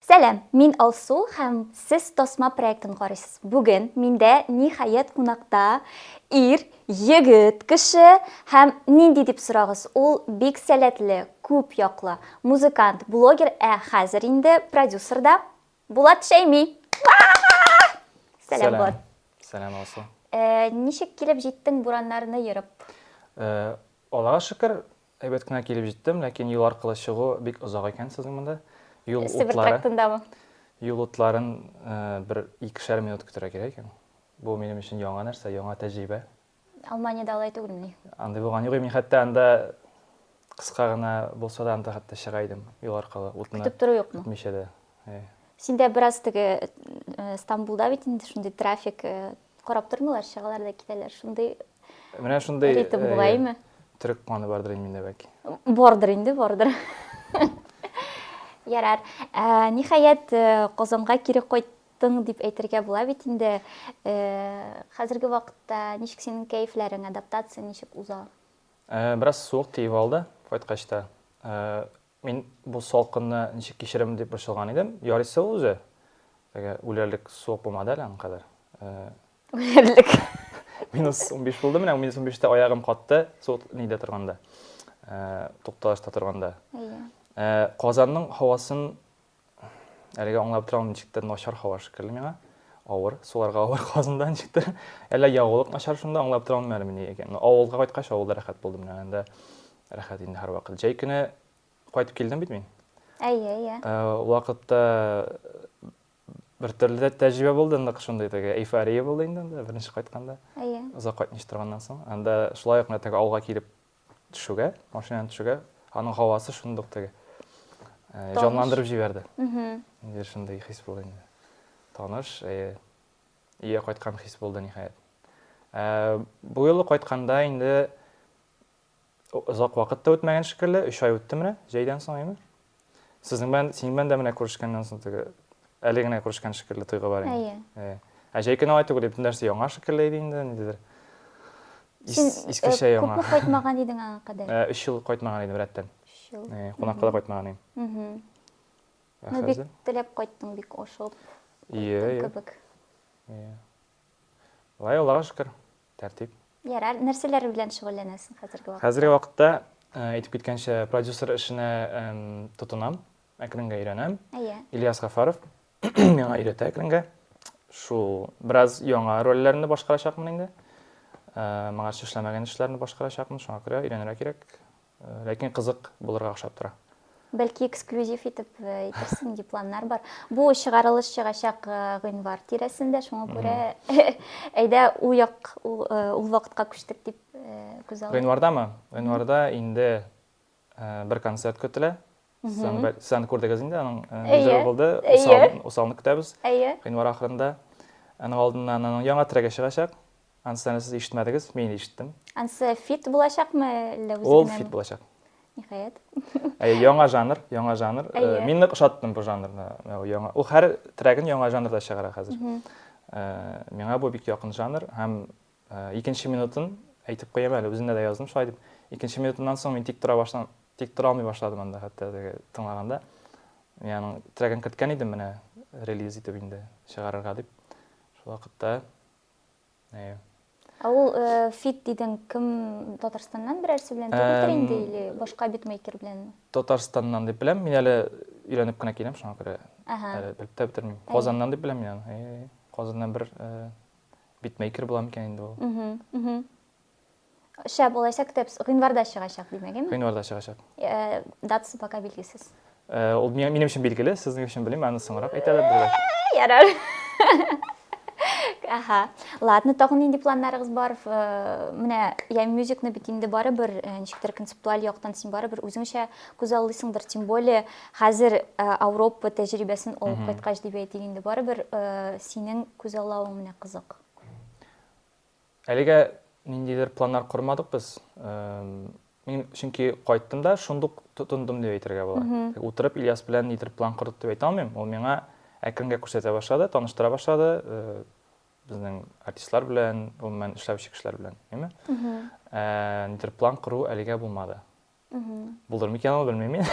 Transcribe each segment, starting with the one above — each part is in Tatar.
Сәлам, мин Алсу һәм сез Тасма проектын карыйсыз. Бүген миндә ниһаять кунакта ир, егет, кеше һәм нинди дип сорагыз, ул бик сәләтле, күп яклы, музыкант, блогер, ә хәзер инде продюсер да, Булат Шәйми! Уа-а-а! Сәлам, Булат. Сәлам, Алсу. Ничек килеп җиттең бураннарны ерып? Аллага шөкер, Әйбәт кенә килеп җиттем, ләкин юл аркылы чыгу бик озак икән сезнең монда. Юл утлары. Себер трактындамы? Юл утларын бер икешәр минут көтәргә кирәк икән. Бу минем өчен яңа нәрсә, яңа тәҗрибә. Алманиядә алай түгелмени? Андый булган юк. Мин хәтта анда кыска гына булса да анда хәтта чыга идем юл аркылы. Утны көтеп тору юкмы? Көтмичә дә. Синдә бераз теге Стамбулда бит инде шундый трафик Карап тормыйлар, чыгалар да китәләр. Шундый Менә шундый ритм бугаймы? Төрек каны бардыр инде миндә бәлки. Бардыр инде, бардыр. Ярар. Ә, ниһаять, Казанга кире кайттың дип әйтергә була бит инде. Ә, хәзерге вакытта ничек синең кәефләрең, адаптация ничек уза? Ә, бераз суык тиеп алды кайткач та. Ә, Мин бу салкынны ничек кичерермен дип борчылган идем. Ярыйсы ул үзе. Теге үләрлек суык булмады әле аңа кадәр. Үләрлек. Минус 15 булды, менә минус 15-тә аягым катты, суык нидә торганда. Тукталышта торганда. Иә. Казанның һавасын Әлегә аңлап торам, ничектер начар һава шикелле миңа. Авыр, суларга авыр казында ничектер. Әллә ягулык начар шунда аңлап торам әле мени икән. Ну, авылга кайткач, авылда рәхәт булдым менә анда. Рәхәт инде һәрвакыт. Җәй көне кайтып килдем бит мин. Әйе, әйе. Э, вакытта бер төрле дә тәҗрибә булды, нык шундый теге эйфория булды инде анда беренче кайтканда. Әйе. Озак кайтмыйча торганнан соң, анда шулай ук менә теге авылга килеп төшүгә, машинадан төшүгә, аның һавасы шундук теге җанландырып җибәрде. Инде шундый хис булды инде. Таныш, ие кайткан хис булды ниһаять. Бу юлы кайтканда инде озак вакыт та үтмәгән шикелле, 3 ай үтте менә, җәйдән соң, әйме? Сезнең белән, синең белән дә менә күрешкәннән соң теге әле генә күрешкән шикелле тойгы бар инде. Әйе. Ә җәй көне алай түгел, бөтен нәрсә яңа шикелле иде инде, ниндидер. Син искечә э, яңа. Күпме кайтмаган идең аңа кадәр? 3 э, ел кайтмаган идем рәттән. 3 ел. Э, кунакка да кайтмаган идем. Ә ну, бик теләп кайттың, бик ашыгып. Ие, ие. Кебек. Ие. Лай Аллага шөкер. Тәртип. Ярар, нәрсәләр белән шөгыльләнәсең хәзерге вакытта? Хәзерге вакытта, әйтеп киткәнчә, продюсер эшенә тотынам, әкренгә өйрәнәм. Әйе. Ильяс Гафаров миңа өйрәтә әкренгә. Шул бераз яңа рольләрне башкарачакмын инде. Моңарчы эшләмәгән эшләрне башкарачакмын, шуңа күрә өйрәнергә кирәк. Ләкин кызык булырга охшап тора. Бәлки эксклюзив итеп әйтерсең, дип планнар бар. Бу чыгарылыш чыгачак гыйнвар тирәсендә, шуңа күрә әйдә ул як ул вакытка күчтек дип күз алдына. Гыйнвардамы? Гыйнварда инде бер концерт көтелә. Сән күрдегез инде, аның низәр булды, усалны көтәбез, гыйнвар ахырында. Аның алдыннан аның яңа трегы чыгачак, анысы әле сез ишетмәдегез, мин инде ишеттем. Анысы фит булачакмы, әллә үзе генә? Ул фит булачак. Ниһаять. Әй, яңа жанр, яңа жанр. Мин нык ошаттым бу жанрны. Яңа, ул һәр трегын яңа жанрда чыгара хәзер. Миңа бу бик якын жанр һәм Икенче минутын әйтеп куям әле, үземдә дә яздым шулай дип. Икенче минутыннан соң мин тик тора башлам, тик тора алмый башладым анда хәтта теге тыңлаганда. Мин аның трегын керткән идем менә релиз итеп инде чыгарырга дип. Шул вакытта әйе. Ә ул э, фит дидең, кем Татарстаннан берәрсе белән түгелдер инде или башка битмейкер белән? Татарстаннан дип беләм, мин әле өйләнеп кенә киләм, шуңа күрә әле белеп тә бетермим. Казаннан дип беләм мин аны. Казаннан бер э, Битмейкер була микән инде ул? Шәп булачак тепс. Гыйнварда чыгачак, димәгеме? Гыйнварда чыгачак. Э, датасы пока билгесез. Э, ул минем өчен билгеле, сезнең өчен белмим, аны соңрак әйтәләр диләр. Э, ярар. Аха. Ладно, тагын нинди планнарыгыз бар? Менә я мюзикны бит инде барыбер ничектер концептуаль яктан син барыбер үзеңчә күзаллыйсыңдыр, тем более Хәзер Ауропа тәҗрибәсен алып кайткач дип әйтик инде, барыбер синең күзаллавың менә кызык. Әлегә ниндидер планнар кормадык без. Мин чөнки кайттым да шундук тотындым дип әйтергә була. Утырып Ильяс белән нидер план кордык дип әйтә алмыйм. Ул миңа әкренге күрсәтә башлады, таныштыра башлады безнең артистлар белән, гомумән эшләүче кешеләр белән, әйме? Нидер план кору әлегә булмады. Булдыр микән ул, белмим мин.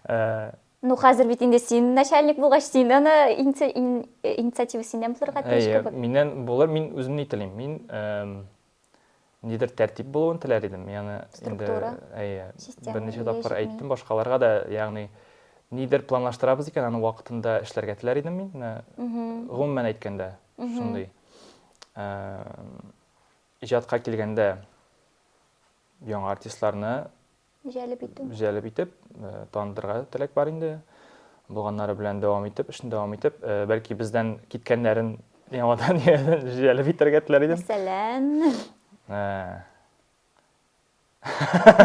Э, ну, хәзер бит инде син начальник булгач, син аны инициатива синнән булырга тиеш кебек. Миннән булыр, мин үзем ни телим. Мин нидер тәртип булуын теләр идем. Яны инде әйе, берничә тапкыр әйттем башкаларга да, ягъни нидер планлаштырабыз икән, аны вакытында эшләргә теләр идем мин. Гомумән әйткәндә, шундый. Э, иҗатка килгәндә, яңа артистларны җәлеп итү җәлеп итеп танытырга теләк бар инде булганнары белән дәвам итеп эшне дәвам итеп бәлки бездән киткәннәрен яңадан җәлеп итәргә теләр идем мәсәлән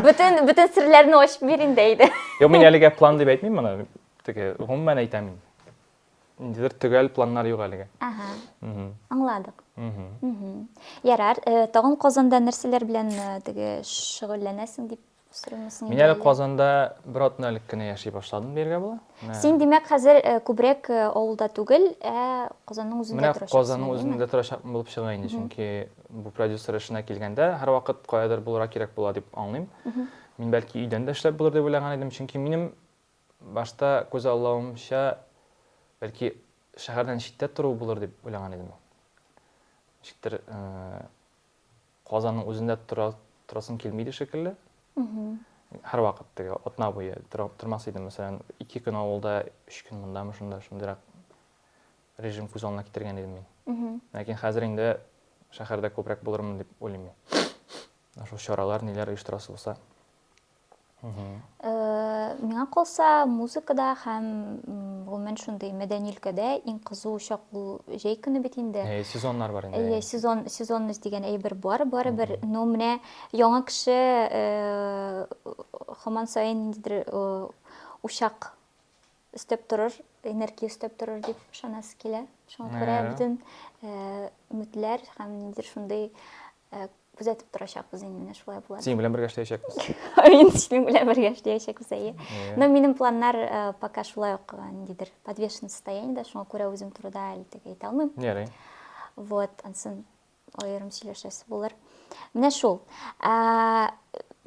бөтен бөтен серләрне ачып бир инде әйдә юк мин әлегә план дип әйтмим моны теге гомумән әйтәм мин Ниндидер төгәл планнар юк әлегә. Ага. Мгм. Аңладык. Мгм. Мгм. Ярар, э, тагын Казанда нәрсәләр белән э, теге шөгыльләнәсең дип сорыймсың Мин әле Казанда бер атна элек кенә яши башладым дияргә була. Менә- Син, димәк, хәзер э, күбрәк э, авылда түгел, ә Казанның үзендә Менә торачаксың. Казанның әйеме? үзендә торачакмын булып чыга инде, чөнки бу продюсер эшенә килгәндә һәрвакыт каядыр булырга кирәк була дип аңлыйм. Мин бәлки өйдән дә эшләп булыр дип уйлаган идем, чөнки минем Башта, күзаллавымча, бәлки, шәһәрдән читтә тору булыр дип уйлаган идем. Ничектер, Казанның үзендә торасым килми иде шикелле. Һәрвакыт теге атна буе тормас идем. Мәсәлән, ике көн авылда, өч көн мондамы, шунда, шундыйрак режим күз алдына китергән идем мин. Ләкин хәзер инде шәһәрдә күбрәк булырмын дип уйлыйм мин. Шул чаралар, ниләр оештырасы булса. Миңа калса, музыкада һәм гомумән шундый мәдәни өлкәдә иң кызу чак бу җәй көне бит инде. Әйе, сезоннар бар инде. Әйе, сезон сезонность дигән әйбер бар, барыбер. Но менә яңа кеше хаман саен ниндидер учак өстәп торыр, энергия өстәп торыр дип ышанасы килә. Шуңа күрә бөтен өметләр һәм ниндидер шундый күзәтеп торачакбыз инде менә шулай була. Синең белән бергә эшләячәкбез. Мин синең белән бергә эшләячәкбез, әйе. Но минем планнар пока шулай ук ниндидер подвешенный состояниедә, шуңа күрә үзем турыда әле теге әйтә алмыйм. Ярый. Вот, ансын Аерым сөйләшәсе булыр. Менә шул.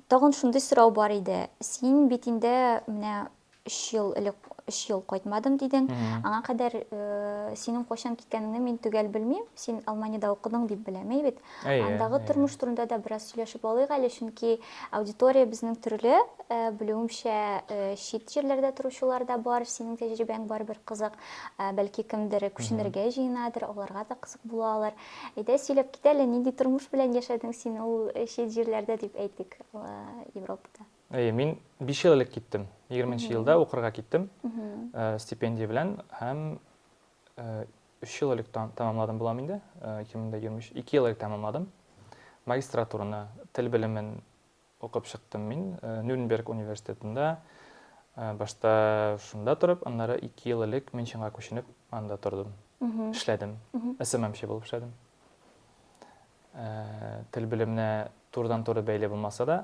Тагын шундый сорау бар иде. Син бит инде менә 3 ел элек 3 ел кайтмадым дидең. Аңа кадәр э, синең кайчан киткәнеңне мин төгәл белмим. Син Алманиядә укыдың дип беләм, әй бит. Андагы тормыш турында да бераз сөйләшеп алыйк әле, чөнки аудитория безнең төрле. Э, белүемчә, э, чит җирләрдә торучылар да бар. Синең тәҗрибәң барыбер кызык. Ә, бәлки кемдер күченергә җыенадыр, аларга да кызык була алыр. Әйдә, сөйләп кит әле, нинди тормыш белән яшәдең син ул чит җирләрдә, дип әйтик, Европада? Әйе, мин биш ел элек киттем. Егерменче елда укырга киттем стипендия белән һәм өч ел элек тәмамладым булам инде, ике мең дә егерме өч, ике ел элек тәмамладым магистратураны, тел белемен Укып чыктым мин Нюрнберг университетында. Башта шунда торып, аннары ике ел элек Мюнхенга күченеп, анда тордым. Эшләдем. СММчы булып эшләдем. Тел белеменә турыдан-туры бәйле булмаса да,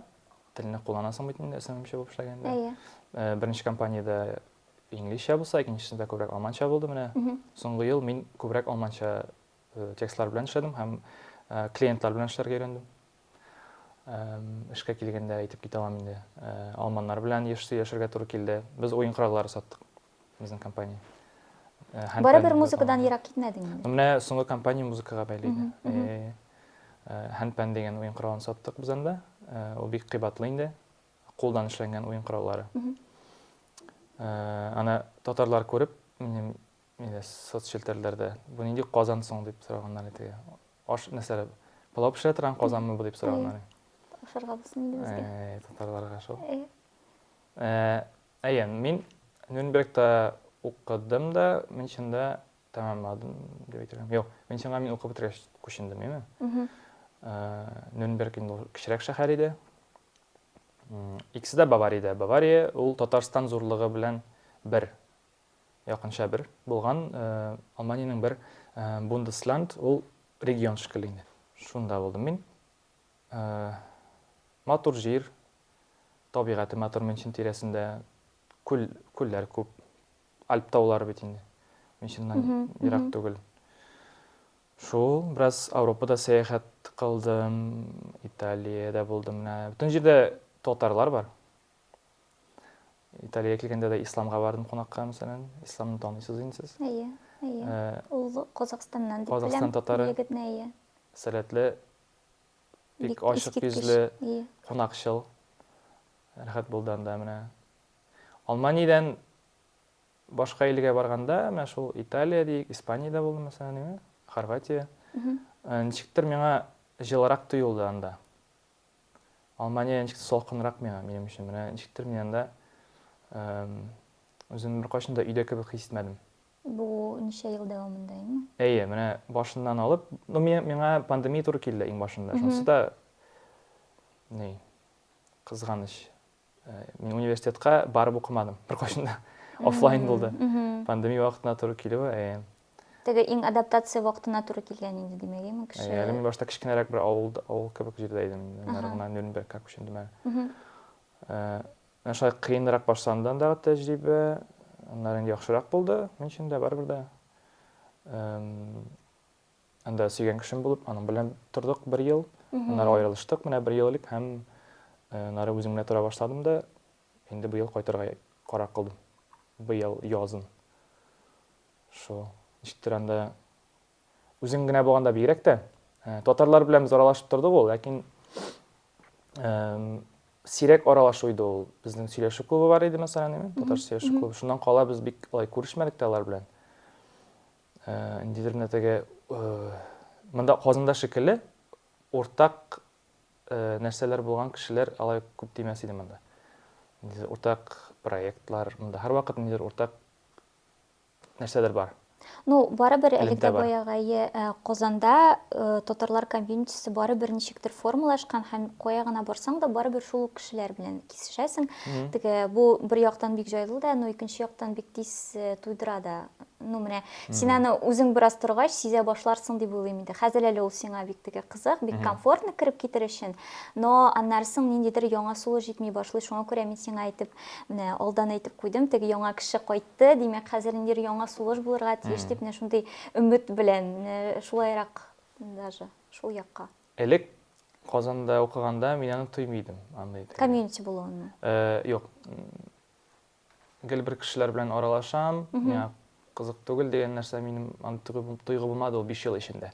телне кулланасың бит инде СММчы булып эшләгәндә. Әйе. Беренче компаниядә инглизчә булса, икенчесендә күбрәк алманча булды менә. Соңгы ел мин күбрәк алманча текстлар белән эшләдем һәм клиентлар белән эшләргә өйрәндем. Эшкә килгәндә әйтеп китә алам инде. Алманнар белән еш сөйләшергә туры килде. Без уен кораллары саттык. Безнең компания. Барыбер музыкадан ерак китмәдең инде. Менә соңгы компания музыкага бәйле иде. Хәнпән дигән уен коралын саттык без анда. Ул бик кыйбатлы инде. Кулдан эшләнгән уен кораллары. Аны татарлар күреп, минем Мине соцчелтәрләрдә бу нинди казан соң дип сораганнар иде теге. Аш нәрсәләр? Пылау пешерә торган казанмы бу дип сораганнар. Ашарга булсын инде безгә. Әй, татарларга шул. Әйе, мин Нюрнбергта укыдым да, Мюнхенда тәмамладым дип әйтергә. Юк, Мюнхенга мин укып бетергәч күчендем, яме. Нюрнберг инде кечерәк шәһәр иде. Икесе дә Бавариядә. Бавария ул Татарстан зурлыгы белән бер. Якынча бер булган Алманиянең бер Бундеслянд, ул регион шикелле инде. Шунда булдым мин. Матур җир, табигате матур Мюнхен тирәсендә. Күл, күлләр күп. Альп таулары бит инде. Мюнхеннан ерак түгел. Шул, бераз Ауропада сәяхәт кылдым, Италиядә булдым менә. Бөтен җирдә татарлар бар. Италия килгәндә дә исламга бардым кунакка, мәсәлән. Исламны танысыз инде сез. Әйе, әйе. Э, Ул Казахстаннан дип Казахстан татары. Егетне әйе. Сәләтле, бик ачык йөзле, кунакчыл. Рәхәт булды анда менә. Алманиядән башка илгә барганда, менә шул Италия дик, Испаниядә булдым, мәсәлән, Хорватия. Э, ничектер миңа җылырак тоелды анда. Алмания ничек тә салкынрак миңа, минем өчен. Менә ничектер мин анда үземне беркайчан да өйдә кебек хис итмәдем. Бу ничә ел дәвамында инде? Әйе, менә башыннан алып, ну миңа пандемия туры килде иң башында. Шунысы да ни, кызганыч. Мин университетка барып укымадым беркайчан да. Офлайн булды. Пандемия вакытына туры килүе. Э. Теге иң адаптация вакытына туры килгән инде димәгеме э, кеше? Әле мин башта кечкенәрәк бер авыл авыл кебек җирдә идем инде. Наргына Нюрнберг как өчен димәк. Э, менә шулай кыенрак башландан да тәҗрибә, аннары инде яхшырак булды. Мин өчен дә барыбер дә. Анда сөйгән кешем булып, аның белән тордык бер ел. Аннары аерылыштык, менә бер ел элек һәм э, аннары үзем генә тора башладым да, инде быел кайтырга карар кылдым. Быел язын. Шул. Ничектер анда үзең генә булганда бигрәк тә э, татарлар белән без аралашып тордык ул, ләкин сирәк аралашу иде ул. Безнең сөйләшү клубы бар иде, мәсәлән, татар сөйләшү клубы. Шуннан кала без бик алай күрешмәдек тә алар белән. Ниндидер генә теге монда Казанда шикелле уртак нәрсәләр булган кешеләр алай күп тимәс иде монда. Ниндидер уртак проектлар, монда һәрвакыт ниндидер уртак нәрсәләр бар. Ну, барыбер әле дә баягы Казанда татарлар комьюнитисы барыбер ничектер формалашкан һәм кая гына барсаң да барыбер шул ук кешеләр белән кисешәсең. Теге бу бер яктан бик җайлы да, но икенче яктан бик тиз туйдыра да. ну менә син аны үзең бераз торгач сизә башларсың дип уйлыйм инде хәзер әле ул сиңа бик теге кызык бик комфортно кереп китер өчен но аннары соң ниндидер яңа сулы җитми башлый шуңа күрә мин сиңа әйтеп менә алдан әйтеп куйдым теге яңа кеше кайтты димәк хәзер ниндидер яңа сулыш булырга тиеш дип менә шундый өмет белән менә шулайрак даже шул якка элек казанда укыганда мин аны тоймый идем андый комьюнити булуын юк Гел бер кешеләр белән аралашам, миңа кызык түгел дигән нәрсә минем аны тойгы булмады ул 5 ел эчендә.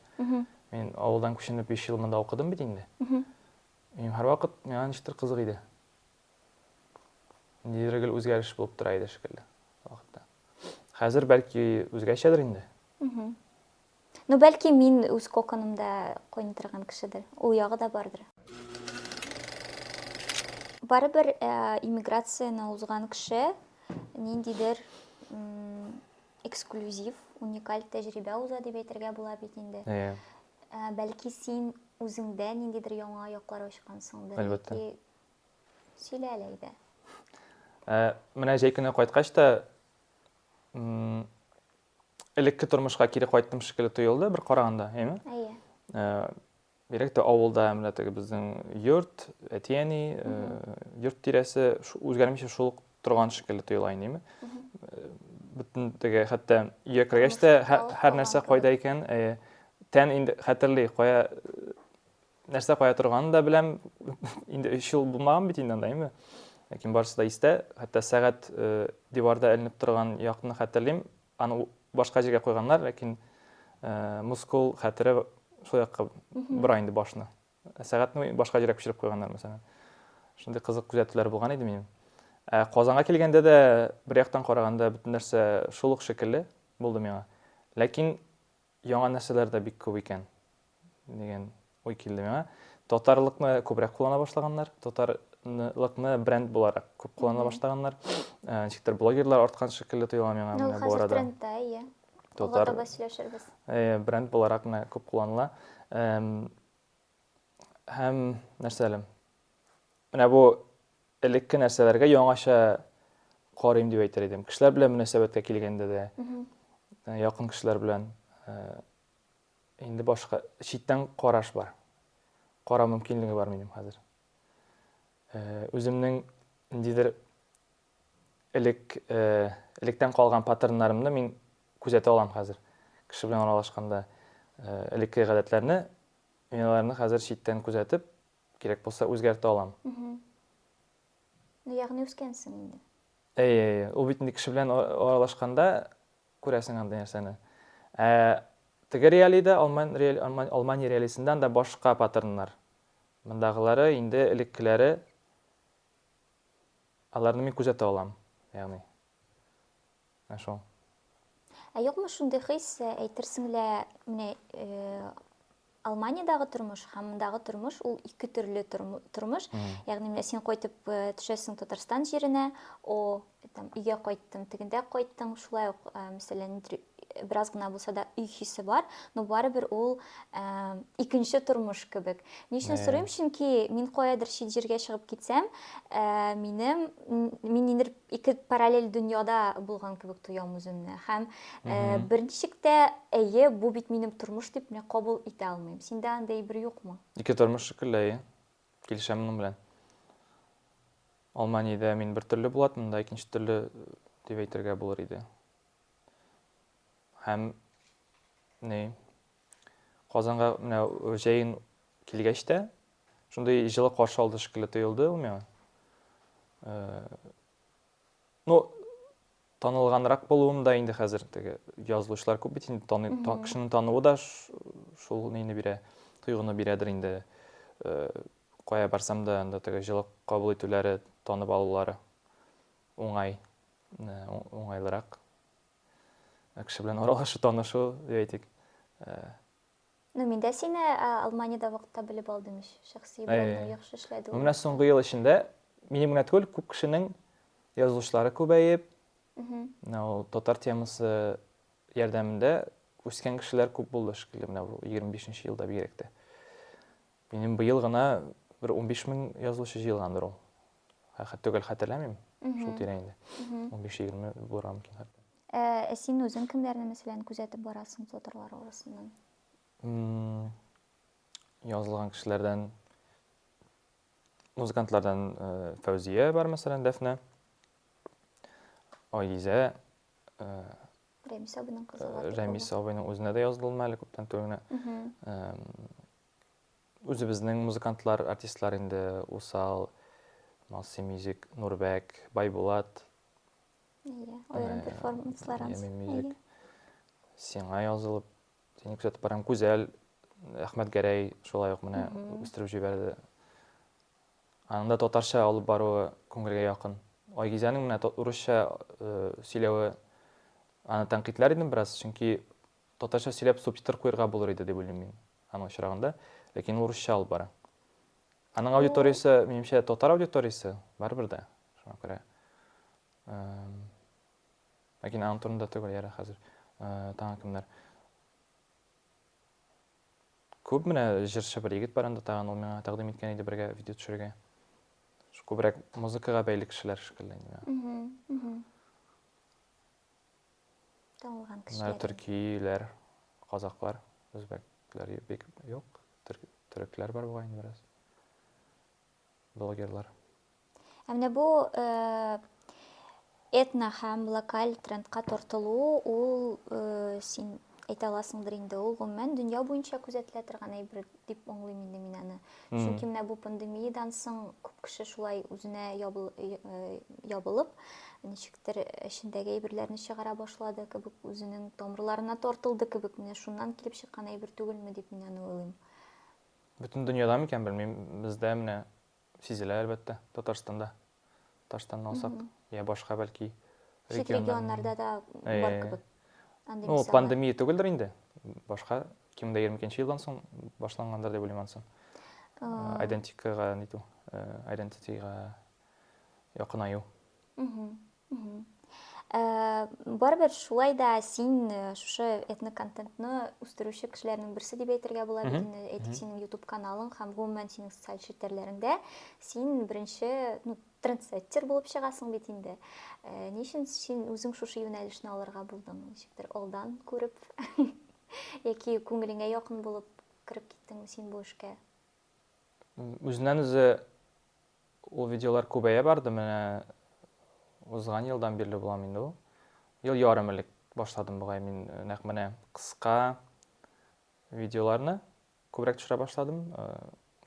Мин авылдан күченеп 5 ел монда укыдым бит инде. Минем һәрвакыт миңа ничектер кызык иде. Ниндидер гел үзгәреш булып тора иде шикелле вакытта. Хәзер бәлки үзгәчәдер инде. Ну, бәлки мин үз коконымда койный торган кешедер. Ул ягы да бардыр. Барыбер э, иммиграцияне узган кеше ниндидер эксклюзив, уникаль тәҗрибә уза дип әйтергә була бит инде. Иә. Э, бәлки син үзеңдә ниндидер яңа яклар ачкансыңдыр. Әлбәттә. Яки сөйлә әле әйдә. Ә, менә җәй көне кайткач та элекке тормышка кире кайттым шикелле тоелды бер караганда, әйме? Әйе. Э, бигрәк тә авылда менә теге безнең йорт, әти-әни, э, йорт тирәсе үзгәрмичә шул торган шикелле тоела инде, әйме? Э, бөтен теге хәтта өйгә кергәч тә һәр нәрсә кайда икән, тән инде хәтерли, кая нәрсә кая торганын да беләм. Инде 3 ел булмаган бит инде анда, әйме? Ләкин барысы да истә. Хәтта сәгать э, диварда эленеп торган якны хәтерлим. Аны башка җиргә куйганнар, ләкин э, мускул хәтере шул якка бора инде башны. Сәгатьне башка җиргә күчереп куйганнар, мәсәлән. Шундый кызык күзәтүләр булган иде минем. Ә Казанга килгәндә дә бер яктан караганда бөтен нәрсә шул ук шикелле булды миңа. Ләкин Яңа нәрсәләр дә бик күп икән, дигән уй килде миңа. Татарлыкны күбрәк куллана башлаганнар, татарлыкны бренд буларак күп куллана башлаганнар. Ә, Ничектер блогерлар арткан шикелле тоела миңа Ну, менә бу хәзер арада. трендта, иә. Алга Татар таба сөйләшербез. э, бренд буларак менә күп кулланыла. Эм, Һәм нәрсә әле? Менә бу Элекке нәрсәләргә яңача карыйм дип әйтер идем. Кешеләр белән мөнәсәбәткә килгәндә дә, э, якын кешеләр белән э, инде башка читтән караш бар. Кара мөмкинлеге бар минем хәзер. Э, үземнең ниндидер элек э, электән калган паттерннарымны мин күзәтә алам хәзер. Кеше белән аралашканда э, элекке гадәтләрне, мин аларны хәзер читтән күзәтеп, Кирәк булса үзгәртә алам. Ну, ягъни үскәнсең инде. Әйе, әйе. Ул бит инде кеше белән аралашканда күрәсең андый нәрсәне. Ә теге реалида, алман алмани реалисыннан да башка паттерннар. Мондагылары инде элеккеләре аларны мин күзәтә алам. Ягъни Ә шул. Ә юкмы шундый хис, әйтерсең лә, менә Алманиядагы тормыш һәм мондагы тормыш ул ике төрле тормыш. Ягъни менә син кайтып э, төшәсең Татарстан җиренә, о, там өйгә кайттың, тегендә кайттың, шулай ук, э, мәсәлән, бераз гына булса да өй хисе бар, но барыбер ул э, икенче тормыш кебек. Ни өчен сорыйм? Чөнки мин каядыр чит җиргә чыгып китсәм, минем мин нидер Ике параллель дөньяда булган кебек тоям үземне һәм берничек тә әйе, бу бит минем тормыш дип менә кабул итә алмыйм. Синдә андый бер юкмы? Ике тормыш шикелле, әйе. Килешәм моның белән. Алманиядә мин бер төрле булат, монда икенче төрле дип әйтергә булыр иде. Һәм ни Казанга менә җәен килгәч тә, Шундый җылы каршы алды шикелле тоелды ул миңа. Ну, танылганрак булуым да инде хәзер теге язылучылар күп бит инде таный, та, кешенең тануы да шул нейне бирә, тойгыны бирәдер инде. Кая барсам да анда теге җылы кабул итүләре, танып алулары уңай, уңайлырак. Кеше белән аралашу, танышу, әйтик. Ну, мин дә сине Алманиядә вакытта белеп алдым ич. Шәхси блогны яхшы эшләде. Менә соңгы ел эчендә минем генә түгел, күп кешенең язылышлары күбәеп, менә ул татар темасы ярдәмендә үскән кешеләр күп булды шикелле менә бу 25 нче елда бигрәк тә. Минем быел гына бер 15 мең язылышы җыелгандыр ул. Хәтта түгел хәтерләмим. Шул тирә инде. 15-20 булырга мөмкин хәтта. Ә, ә син үзең кемнәрне мәсәлән күзәтеп барасың флотерлар арасыннан? Язылган кешеләрдән музыкантлардан э, Фәүзия бар мәсәлән, Дәфнә. Айзә э, Рәмис абының кызы. Э, Рәмис абының үзенә дә язылдым әле күптән түгел генә. Үзебезнең музыкантлар, артистлар инде Усал, Малси Мюзик, Нурбәк, Байбулат, Әйе, аерым перформанслар ансы. Әйе. Сиңа язылып, сине күзәтеп барам, Күзәл, Әхмәт Гәрәй шулай ук менә үстереп җибәрде. Аның да татарча алып баруы күңелгә якын. Айгизәнең менә урысча сөйләве аны тәнкыйтьләр идем бераз, чөнки татарча сөйләп субтитр куярга булыр иде дип уйлыйм мин аның очрагында, ләкин урысча алып бара. Аның аудиториясе, минемчә, татар аудиториясе, барыбер дә. Шуңа күрә ләкин аның турында түгел яра хәзер тагын кемнәр күп менә җырчы бер егет бар анда тагын ул миңа тәкъдим иткән иде бергә видео төшерергә күбрәк музыкага бәйле кешеләр шикелле инде миңа танылган кешеләр төркиләр казаклар үзбәкләр бик юк төрекләр бар бугай инде бераз блогерлар. Ә менә бу этно һәм локаль трендка тартылу, ул син әйтә аласыңдыр инде, ул гомумән дөнья буенча күзәтелә торган әйбер дип аңлыйм инде мин аны. Чөнки менә бу пандемиядән соң күп кеше шулай үзенә ябылып, ничектер эчендәге әйберләрне чыгара башлады кебек, үзенең тамырларына тартылды кебек, менә шуннан килеп чыккан әйбер түгелме дип мин аны уйлыйм. Бөтен дөньяда микән, белмим, бездә менә сизелә, әлбәттә, Татарстанда. Татарстанны алсак, я башка бәлки Чит регионнарда да бар кебек. Ну, пандемия түгелдер инде. Башка 2022 елдан соң башлангандыр дип уйлыйм ансын. Айдентикага ниту, айдентитига якынаю. Э, барыбер шулай да син э, шушы этно контентны үстерүче кешеләрнең берсе дип әйтергә була бит инде әйтик синең ютуб каналың һәм гомумән синең социаль челтәрләреңдә син беренче ну трендсеттер булып чыгасың бит инде э, ни өчен син үзең шушы юнәлешне алырга булдың ничектер алдан күреп яки күңелеңә якын булып кереп киттеңме син бу эшкә Үзеннән үзе ул видеолар күбәя барды, менә узган елдан бирле булам инде ул. Ел ярым элек башладым бугай мин э, нәкъ менә кыска видеоларны күбрәк төшерә башладым, э,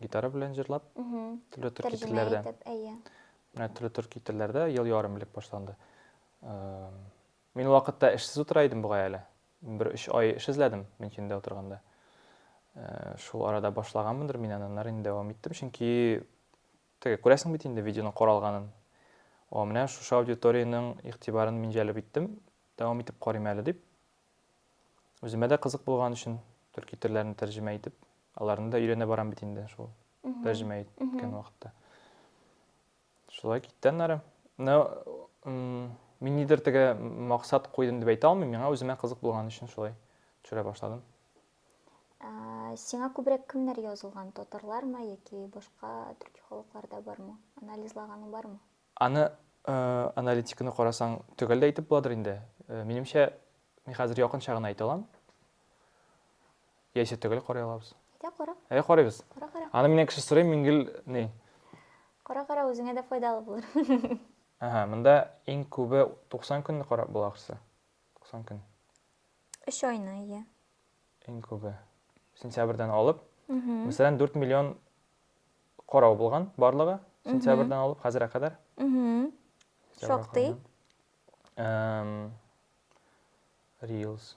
гитара белән җырлап, төрле төрки телләрдә. Менә төрле төрки телләрдә ел ярым элек башланды. Э, Мин ул вакытта эшсез утыра идем бугай әле. Бер өч ай эш эзләдем Мөнчендә утырганда. Шул арада башлаганмындыр мин аны, аннары инде дәвам иттем, чөнки теге күрәсең бит инде видеоның каралганын. О, менә шушы аудиториянең игътибарын мин җәлеп иттем, дәвам итеп карыйм әле дип. Үземә дә кызык булган өчен төрки телләрне тәрҗемә итеп, аларны да өйрәнә барам бит инде шул тәрҗемә иткән вакытта. Шулай китте аннары. Ну, мин нидер теге максат куйдым дип әйтә алмыйм, миңа үземә кызык булган өчен шулай төшерә башладым. Сиңа күбрәк кемнәр язылган? Татарлармы яки башка төрки халыклар да бармы? Анализлаганың бармы? Аны аналитиканы карасаң, төгәл дә әйтеп буладыр инде. Минемчә, мин хәзер якынча гына әйтә алам. Яисә төгәл карый алабыз. Әйдә кара. Әйдә карыйбыз. Кара кара. Аны миннән кеше сорый, мин гел ни? Кара кара үзеңә дә файдалы булыр. Ага, монда иң күбе 90 көнне карап була ахрысы. 90 көн. 3 айны, иә. Иң күбе. Сентябрьдән алып. Мәсәлән, 4 миллион карау булган барлыгы сентябрьдән алып хәзергә кадәр. Шактый. Reels.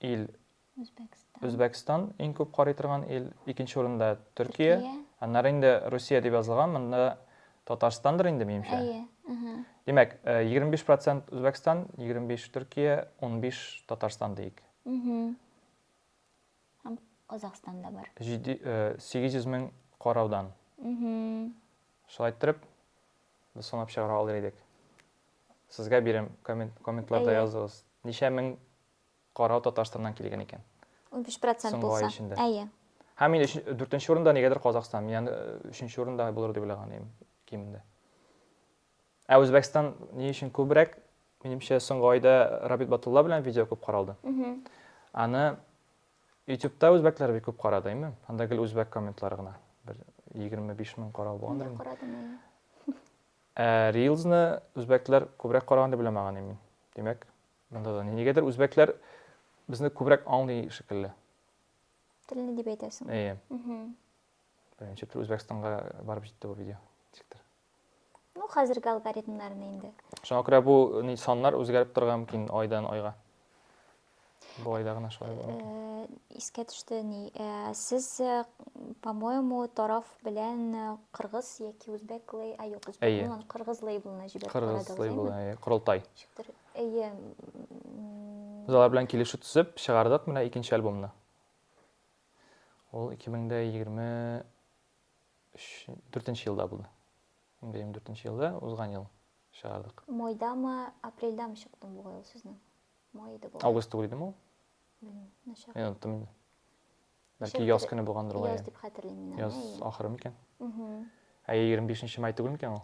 ил Үзбәкстан иң күп карый торган ил, икенче урында Төркия, аннары инде Русия дип язылган, монда Татарстандыр инде, минемчә. Әйе. Димәк, 25 процент Үзбәкстан, 25 Төркия, 15 Татарстан дейк. Һәм Казахстан да бар. 800 мең караудан. Шулай иттереп, без санап чыгара алыр идек. Сезгә бирем, комментларда языгыз. Ничә мең Карау Татарстаннан килгән икән. 15% булса. Әйе. Һәм мин 4 урында нигәдер Казахстан. Мин аны 3 урында булыр дип уйлаган идем кимендә. Ә Үзбәкстан ни өчен күбрәк? Минемчә, соңгы айда Рабит Батулла белән видео күп каралды. Аны YouTube-та үзбәкләр бик күп карады, әйме? Анда гел үзбәк комментлары гына. Бер 25 мең карау булгандыр. Мин карадым, әйе. Reels-ны үзбәкләр күбрәк караган дип уйламаган идем мин. Димәк, Монда да нигәдер үзбәкләр безне күбрәк аңлый шикелле. Телне дип әйтәсең. Әйе. Беренче тел Үзбәкстанга барып җитте бу видео. Ничектер. Ну, хәзерге алгоритмнарны инде. Шуңа күрә бу ни саннар үзгәреп торырга мөмкин айдан айга. Бу айда гына шулай була. Э, искә төште ни. Э, сез, э, по-моему, тараф белән кыргыз яки үзбәк лей, а юк, үзбәк булган кыргыз лейблына җибәреп карадыгыз. Кыргыз лейблы, кырылтай. Ничектер Әйе. Без алар белән килешү төзеп чыгардык менә икенче альбомны. Ул 2024 елда булды. 2024 елда узган ел чыгардык. Майдамы, апрельдамы чыкты бугай ул сезнең? Май иде бу. Август түгел идеме ул? Белмим, начар. Мин оттым инде. Бәлки яз көне булгандыр ул. Яз дип хәтерлим мин. Яз ахыры микән? Әйе, 25 май түгел микән ул?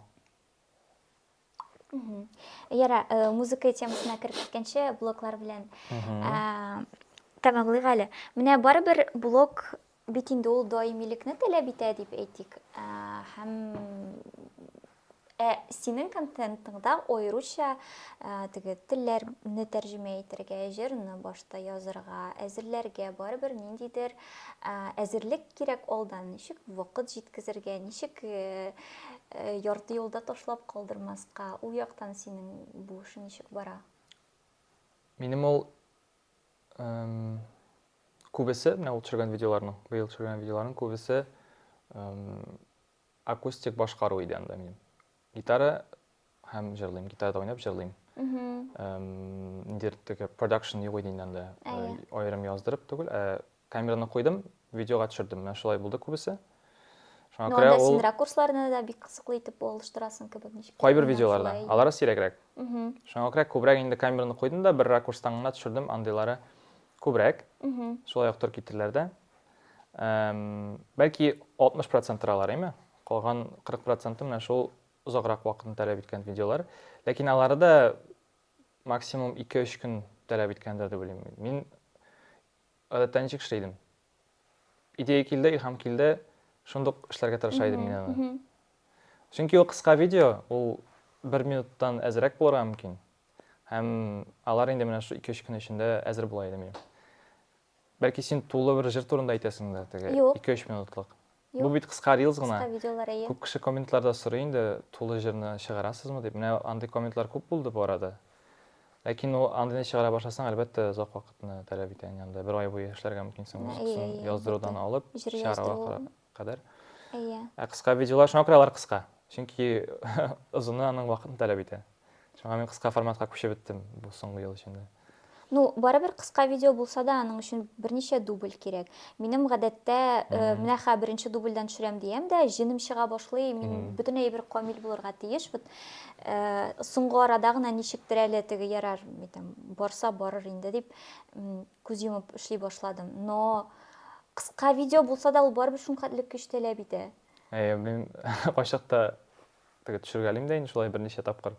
яра э, музыка темасына кереп киткәнче блоклар белән э, тәмамлыйк әле менә барыбер блок бит инде ул даимилекне таләп итә дип әйтик һәм ә синең контентыңда аеруча ә, теге телләрне тәрҗемә итәргә җырны башта язырга әзерләргә барыбер ниндидер Әзерлек кирәк алдан, ничек вакыт җиткезергә, ничек ярты юлда ташлап калдырмаска, ул яктан синең бу эше ничек бара? Минем ул күбесе, менә ул төшергән видеоларның, быел төшергән видеоларның күбесе акустик башкару иде анда минем. Гитара һәм җырлыйм. Гитарада уйнап җырлыйм. Ниндидер теге продакшн юк иде инде анда. Аерым яздырып түгел, ә камераны куйдым, видеога төшердем. Менә шулай булды күбесе. Шуңа күрә ул... син ракурсларны да бик кызыклы итеп алыштырасың кебек ничек? Кайбер видеоларда, алары сирәгрәк. Шуңа күрә күбрәк инде камераны куйдым да, бер ракурстан гына төшердем, андыйлары күбрәк. Шулай актер китереләр дә. Бәлки 60 процентралар, әйме? Калган 40 проценты менә шул озаграк вакытны таләп иткән видеолар. Ләкин алары да максимум 2-3 көн таләп иткәндер дип уйлыйм. Мин гадәттә ничек эшли идем? Идея килде, илһам килде, шундук эшләргә тырыша идем мин аны. Чөнки ул кыска видео, ул 1 минуттан әзрәк булырга мөмкин. Һәм алар инде менә шул 2-3 көн эчендә әзер була иде минем. Бәлки син тулы бер җыр турында әйтәсеңдер, теге 2-3 минутлык. Юк. Бу бит кыска рилс гына. Кыска видеолар әйе. Күп кеше комментларда сорый инде, тулы җырны чыгарасызмы дип. Менә андый комментлар күп булды бу арада. Ләкин ул андыйны чыгара башласаң, әлбәттә, озак вакытны таләп итә инде. Бер ай буе эшләргә мөмкинсең музыкасын яздырудан алып, чыгарга карап. кадәр. Әйе. Ә кыска видеолар шуңа күрә алар кыска. Чөнки озыны аның вакытын таләп итә. Шуңа мин кыска форматка күчеп беттем бу соңгы ел эчендә. Ну, барыбер кыска видео булса да, аның өчен берничә дубль кирәк. Минем гадәттә, э, менә хә беренче дубльдән төшерәм диям дә, җенем чыга башлый, мин бөтен әйбер камил булырга тиеш. Вот э, соңгы арада гына ничектер әле теге ярар, барса барыр инде дип Күз йомып эшли башладым. Но кыска видео булса да, ул барыбер шулкадәрлек көч таләп итә. Әйе, мин кайчакта теге төшергәлим дә инде шулай берничә тапкыр.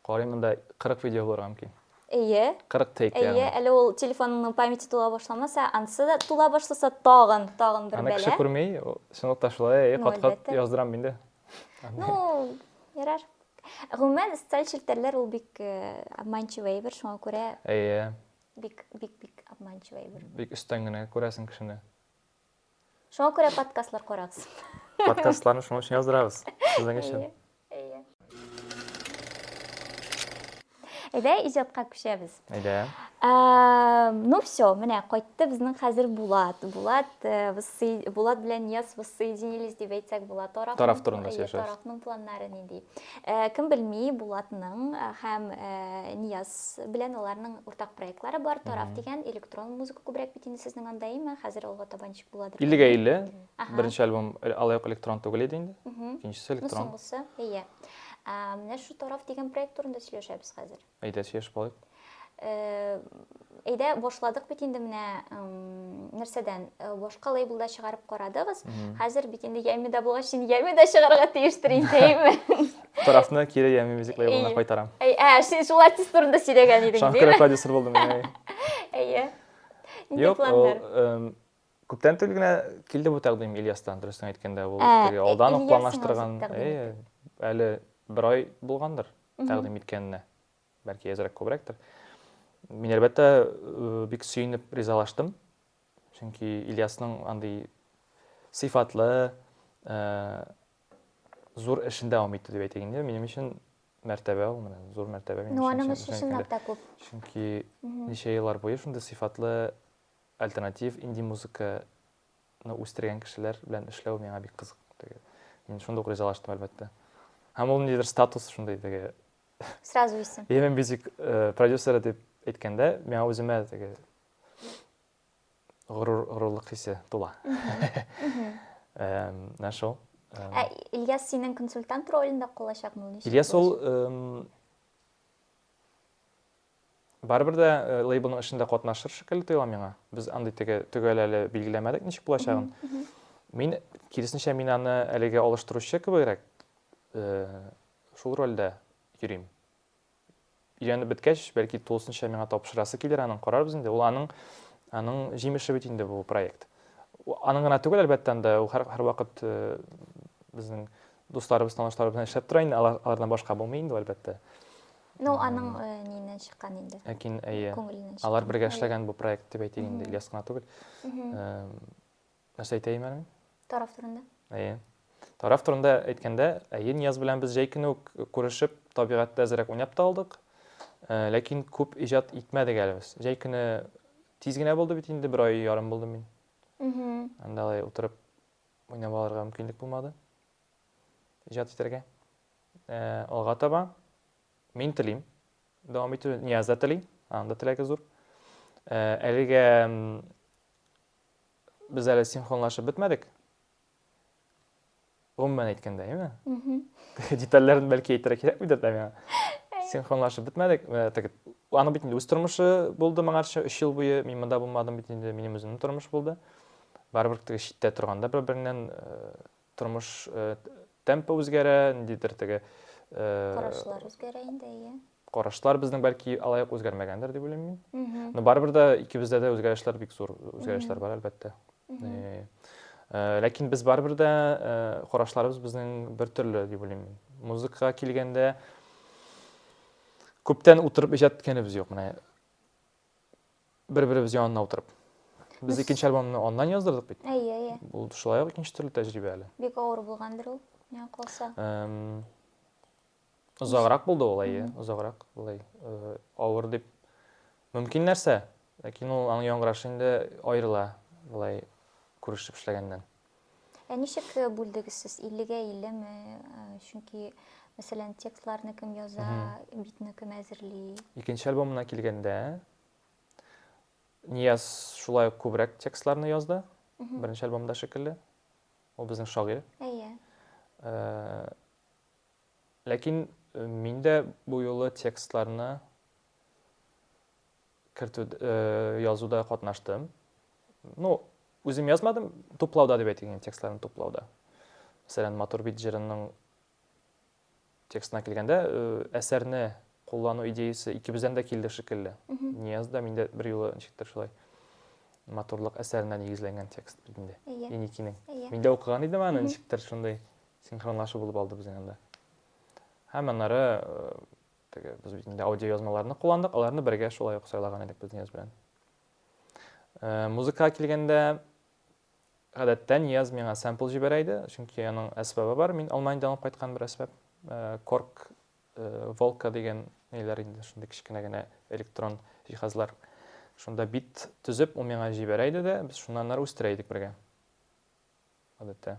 Карыйм монда 40 видео булырга мөмкин. Әйе. 40 тейк ягъни. Әйе, әле ул телефоныңның памяте тула башламаса, ансы да тула башласа тагын, тагын бер бәла. Аны кеше күрми, чынлыкта шулай, әйе, кат-кат яздырам инде. Ну, ярар. Гомумән, социаль челтәрләр ул бик обманчивый әйбер, шуңа күрә. Әйе. Бик, бик, бик обманчивый әйбер. Бик өстән генә күрәсең кешене. Шуңа күрә подкастлар карагыз. Подкастларны шуның өчен яздырабыз. Сезнең өчен. Әйе. Әйдә, иҗатка күчәбез. Әйдә. Ну все, менә кайтты безнең хәзер Булат. Булат, э, Булат белән Нияз воссоединились дип әйтсәк була. Тараф, тараф турында сөйләшәбез. Тарафның планнары нинди? Э, кем белми, Булатның э, һәм Нияз белән аларның уртак проектлары бар, Тарав дигән электрон музыка күбрәк бит инде сезнең анда, әйме? Хәзер алга таба ничек буладыр? 50-гә 50. Беренче альбом э, алай ук электрон түгел иде инде. Икенчесе ну, электрон. Ну, соңгысы, әйе. Менә шу Тарав дигән проект турында сөйләшәбез хәзер. Әйдә, сөйләшеп алыйк. Э, әйдә башладык бит инде менә нәрсәдән э, башка лейблда чыгарып карадыгыз хәзер бит инде яймида булгач инде яймида чыгарырга тиештер инде әйме Тарафны кире ями мюзикл лейблына кайтарам. Әй, ә, син шул артист турында сөйләгән идең, диме? Шаңкыры продюсер булдым, әй. Әйе. Нинди планнар? Юк, күптән түгел генә килде бу тәкъдим Ильястан, дөресен әйткәндә, ул теге алдан ук планлаштырган. Әйе, әле бер ай булгандыр тәкъдим иткәненә. Бәлки әзрәк күбрәктер. Мин әлбәттә бик сөенеп ризалаштым. Чөнки Ильясның андый сыйфатлы, зур эшен дәвам итте дип әйтик инде. Минем өчен мәртәбә ул менә зур мәртәбә минем өчен. Аның өчен чынлап та күп. Чөнки ничә еллар буе шундый сыйфатлы альтернатив инди музыканы үстергән кешеләр белән эшләү миңа бик кызык. Мин шундук ризалаштым, әлбәттә. Һәм ул ниндидер статус шундый теге. Сразу исем. Yemen Music продюсеры дип әйткәндә, миңа үземә теге Горур, горурлык хисе тула. Менә шул. Ә Ильяс синең консультант ролендә калачакмы ул? Ильяс ул барыбер дә э, лейблның эшендә катнашыр шикелле тоела миңа. Без андый теге төгәл әле билгеләмәдек ничек булачагын. Мин киресенчә мин аны әлегә алыштыручы кебегрәк э, шул рольдә йөрим. өйрәнеп беткәч, бәлки тулысынча миңа тапшырасы килер, аның карарбыз инде. Ул аның аның җимеше бит инде бу проект. Аның гына түгел, әлбәттә, анда ул һәр, һәр вакыт э, безнең дусларыбыз, танышларыбыз белән эшләп тора инде, алардан башка булмый инде, әлбәттә. Ну, аның э, нинен чыккан инде. Ләкин, әйе, алар бергә эшләгән бу проект дип әйтик инде, Ильяс кына түгел. Э, Нәрсә әйтәйем әле? Тараф турында. Әйе. Тараф турында әйткәндә, әйе, Нияз белән без җәй көне үк күрешеп, табигатьтә әзрәк уйнап та алдык. Э, ләкин күп иҗат итмәдек әле без. Җәй көне тиз генә булды бит инде, бер ай ярым булды мин. Анда алай утырып уйнап алырга мөмкинлек булмады. Иҗат итәргә. Э, алга таба мин телим. Дәвам итү Нияз да тели, анда теләге зур. Э, әлегә без әле синхронлашып бетмәдек. Гомумән әйткәндә, әйме? Теге детальләрен бәлки әйтергә кирәкмидер дә миңа. Синхронлашып бетмәдек. Теге аны бит инде үз тормышы булды моңарчы 3 ел буе мин монда булмадым бит инде минем үземнең тормыш булды. Барыбер теге читтә торганда бер-береңнән Тормыш темпы үзгәрә, ниндидер теге Карашлар үзгәрә инде, әйе. Карашлар безнең бәлки алай ук үзгәрмәгәндер дип уйлыйм мин. Но барыбер дә икебездә дә үзгәрешләр бик зур үзгәрешләр бар, әлбәттә. Ләкин без барыбер дә карашларыбыз безнең бер төрле дип уйлыйм мин. Музыкага килгәндә күптән утырып иҗат иткәнебез юк. Менә Бер-беребез янына утырып. Без икенче альбомны аннан яздырдык бит. Әйе, әйе. Бу шулай ук икенче төрле тәҗрибә әле. Бик авыр булгандыр ул, миңа калса. Озаграк булды ул, әйе, озаграк. Булай э, авыр дип мөмкин нәрсә, ләкин ул аның яңгырашы инде аерыла, булай күрешеп эшләгәннән. Ә ничек э, бүлдегез сез? 50-гә 50 ме? Э, чөнки, мәсәлән, текстларны кем яза, битне кем әзерли? Икенче альбомына килгәндә, Нияз шулай ук күбрәк текстларны язды. Беренче альбомда шикелле. Ул безнең шагыйрь. Әйе. Э, ләкин мин дә бу юлы текстларны кертү, язуда катнаштым. Ну, үзем язмадым, туплауда дип әйтик, текстларны туплауда. Мәсәлән, Матур бит җырының текстына килгәндә, әсәрне куллану идеясы икебездән дә килде шикелле. Нияз да, мин дә бер юлы ничектер шулай матурлык әсәренә нигезләнгән текст бит инде. Иникинең. Мин дә укыган идем аны, ничектер шундый синхронлашу булып алды безнең анда. Һәм аннары Теге, без бит инде аудиоязмаларны кулландык, аларны бергә шулай ук сайлаган идек без Нияз белән. Э, музыкага килгәндә, гадәттә Нияз миңа сэмпл җибәрә иде, чөнки аның әсбабы бар, мин Алманиядән алып кайткан бер әсбап. Э, корк, э, волка дигән ниләр инде, шундый кечкенә генә электрон җиһазлар. Шунда бит төзеп, ул миңа җибәрә иде дә, без шуннан ары үстерә идек бергә. Гадәттә.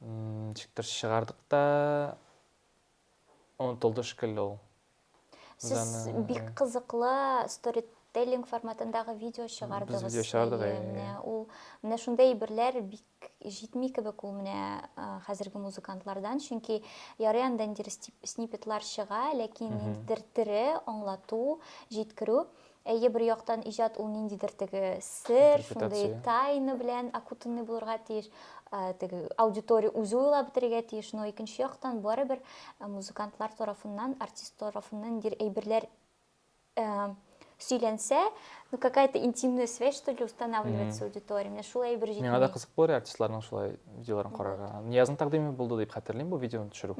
Ничектер чыгардык та онытылды шикелле ул. Сез бик кызыклы стори теллинг форматындагы видео чыгардыгыз. Без видео чыгардык. Менә ул менә шундай әйберләр бик җитми кебек ул менә хәзерге музыкантлардан, чөнки ярый анда инде снипетлар чыга, ләкин ниндидер тере аңлату, җиткерү Әйе, бер яктан иҗат ул ниндидер теге сер, шундый тайна белән окутанный булырга тиеш, теге аудитория үзе уйлап бетерергә тиеш, но икенче яктан барыбер музыкантлар тарафыннан, артист тарафыннан ниндидер әйберләр сөйләнсә, ну какая-то интимная связь что ли устанавливается аудитория. Менә шул әйбер җитми. Миңа да кызык булыр артистларның шулай видеоларын карарга. Ниязның тәкъдиме булды дип хәтерлим бу видеоны төшерү.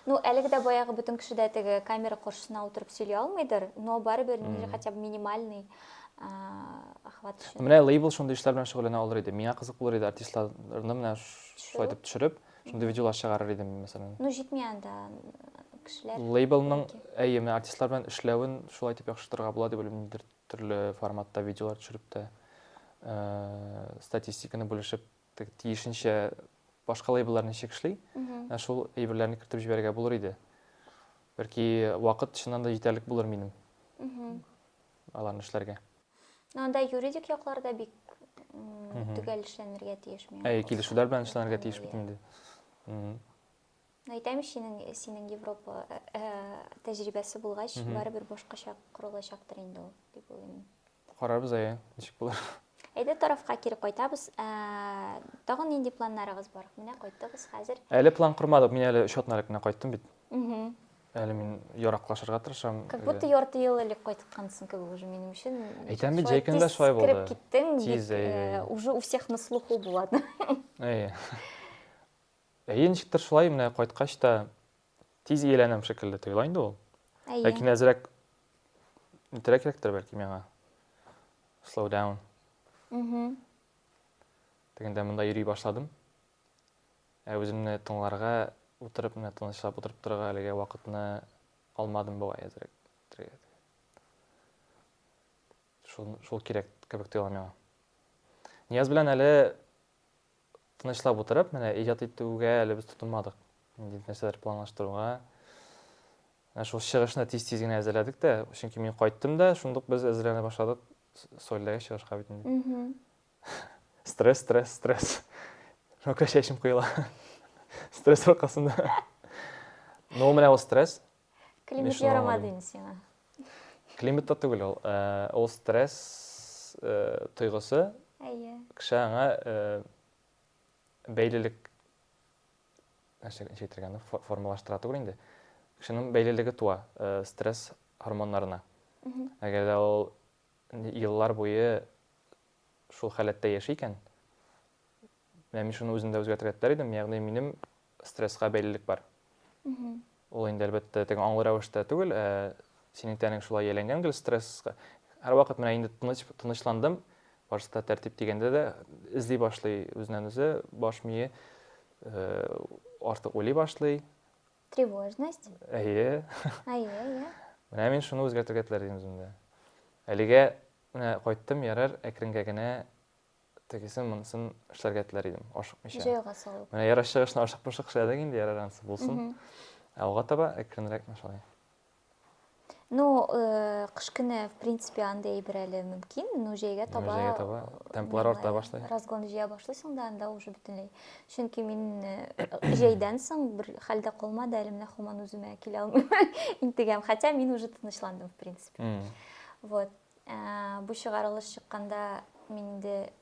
Ну, әлеге дә баягы бөтен кеше дә теге камера каршысына утырып сөйли алмыйдыр, но барыбер mm. хотя бы минимальный охват өчен. Менә лейбл шундый эшләр белән шөгыльләнә алыр иде. Миңа кызык булыр иде артистларны менә шулай итеп төшереп, шундый видеолар чыгарыр идем, мәсәлән. Ну, җитми анда кешеләр. Лейблның, әйе, менә артистлар белән эшләвен шулай итеп яхшыртырга була дип уйлыйм, төрле форматта видеолар төшереп тә, статистиканы бүлешеп тиешенчә башка лейблларны ничек эшли, ә шул әйберләрне кертеп җибәрергә булыр иде. Бәлки вакыт чыннан да җитәрлек булыр минем аларны эшләргә. Ну, анда юридик якларда бик төгәл эшләнергә тиеш миңа. Әй, килешүләр белән эшләнергә тиеш бит инде. Әйтәм синең, синең Европа тәҗрибәсе булгач, барыбер башкача корылачактыр инде ул, дип уйлыйм. Карарбыз, әйе, ничек булыр. Әйдә тарафка кире кайтабыз. Ә, тагын нинди планнарыгыз бар? Менә кайттыгыз хәзер. Әле план кормадык, мин әле өч атна элек кенә кайттым бит. Әле мин яраклашырга тырышам. Как будто ярты ел элек кайткансың кебек уже минем өчен. Әйтәм бит, җәй көндә шулай булды. Кип киттең, бит, уже у всех на слуху булады. Әйе. Әйе, ничектер шулай, менә кайткач та тиз ияләнәм шикелле тоела инде ул. Әйе. Ләкин әзрәк итәргә кирәктер бәлки миңа. Slow down. Угу. Дигәндә монда йөри башладым. Ә үземне тыңларга, утырып менә тынычлап утырып торырга әлегә вакытны алмадым бугай әзрәк. Шул, шул кирәк кебек тоела миңа. Нияз белән әле Тынычлап утырып, менә иҗат итүгә әле без тотынмадык. Ниндидер нәрсәләр планлаштыруга. Ә шул чыгышны тиз-тиз генә әзерләдек тә, чөнки мин кайттым да, шундук без әзерләнә башладык Сольдәге чыгышка бит инде. Стресс, стресс, стресс. Шуңа чәчем коела. Стресс аркасында. Ну, менә ул стресс. Климат ярамады инде сиңа. Климат та түгел ул. Ул стресс тойгысы. Әйе. Кеше аңа бәйлелек нәрсә әйтергә аны формалаштыра түгел инде. Кешенең бәйлелеге туа стресс гормоннарына. Әгәр дә ул еллар буе шул халәттә яши икән, менә мин шуны үземдә үзгәртергә теләр идем, ягъни минем Стресска бәйлелек бар. Ул инде, әлбәттә, теге аңлы рәвештә түгел, ә синең тәнең шулай ияләнгән гел стресска. Һәрвакыт менә инде тыныч, тынычландым, башта тәртип дигәндә дә эзли башлый үзеннән үзе, баш мие э, артык уйлый башлый. Тревожность. Әйе. Әйе, әйе. Менә мин шуны үзгәртергә теләр идем үземдә. Әлегә менә кайттым, ярар, әкренгә генә тегесен, монысын эшләргә теләр идем, ашыкмыйча. Җайга салып. Менә ярыш чыгышны ашыкмышык эшләдек инде, ярар ансы булсын. Алга таба әкренрәк шулай. Ну, э, кыш көне, в принципе, анда әйбер әле мөмкин, но җәйгә таба... Җәйгә таба темплар арта башлый. Разгон җыя башлыйсың да, анда уже бөтенләй. Чөнки мин э, җәйдән соң бер хәлдә калмады, әле менә хуман үземә килә алмыйм, интегәм. Хотя мин уже тынычландым, в принципе. Вот. Ә, бу чыгарылыш чыкканда мин инде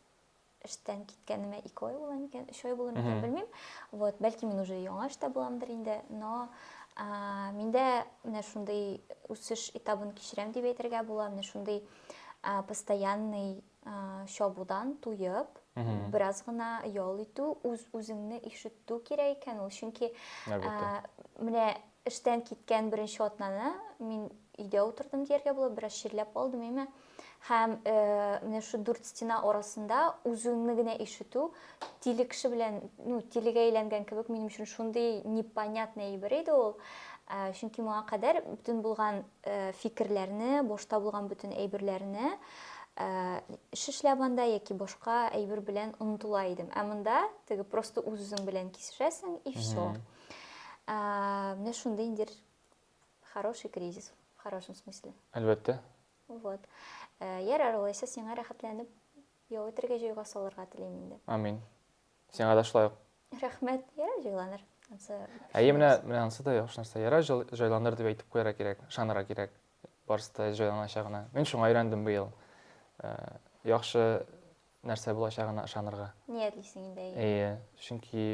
эштән киткәнемә ике ай була микән, өч ай була микән, белмим. Вот, бәлки мин уже яңа эштә буламдыр инде, но ә, миндә менә шундый үсеш этабын кичерәм дип әйтергә була, менә шундый ә, постоянный ә, чабудан туеп, бераз гына ял итү, үз-үзеңне ишетү кирәк икән ул, чөнки ә, менә Эштән киткән беренче атнаны мин өйдә утырдым дияргә була, бераз чирләп алдым, әйме. Һәм э, менә шу дүрт стена арасында үзеңне генә ишетү, тиле кеше белән, ну, тилегә әйләнгән кебек, минем өчен шундый непонятный әйбер иде ул. Э, чөнки моңа кадәр бөтен булган э, фикерләрне, башта булган бөтен әйберләрне Э, шешләп анда яки башка әйбер белән онытыла идем. Ә монда теге просто үз-үзең белән кисешәсең и все. Ә, менә шундый индер хороший кризис, в хорошем смысле. Әлбәттә. Вот. Ә, ярар, алайса сиңа рәхәтләнеп ял итәргә җөйгә салырга телим инде. Амин. Сиңа да шулай ук. Рәхмәт. Ярар, җайланыр. Әйе, менә менә ансы да яхшы нәрсә. Ярар, җайланыр дип әйтеп куярга кирәк, ышанырга кирәк. Барысы да җайланачагына. Мин шуңа өйрәндем быел. Ә, яхшы нәрсә булачагына ышанырга. Ниятлисең инде. Әйе, чөнки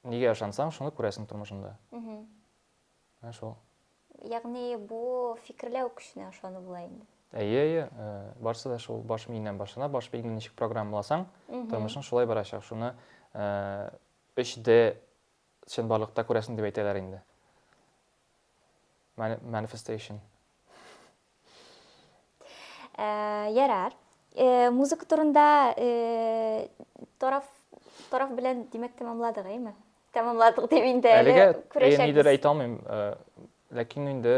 Нигә ышансаң, шуны күрәсең тормышында. Ә шул. Ягъни бу фикерләү көченә ышану була инде. Әйе, әйе, э, барысы да шул баш миеннән башлана, баш миеңне ничек программаласаң, тормышың шулай барачак. Шуны 3D э, чынбарлыкта күрәсең дип әйтәләр инде. Manifestation. Ярар. Музыка турында тараф тараф белән димәк тәмамладык, әйме? Тәмамладык дип инде әле күрәчәкбез. Әлегә әйтә алмыйм, ләкин инде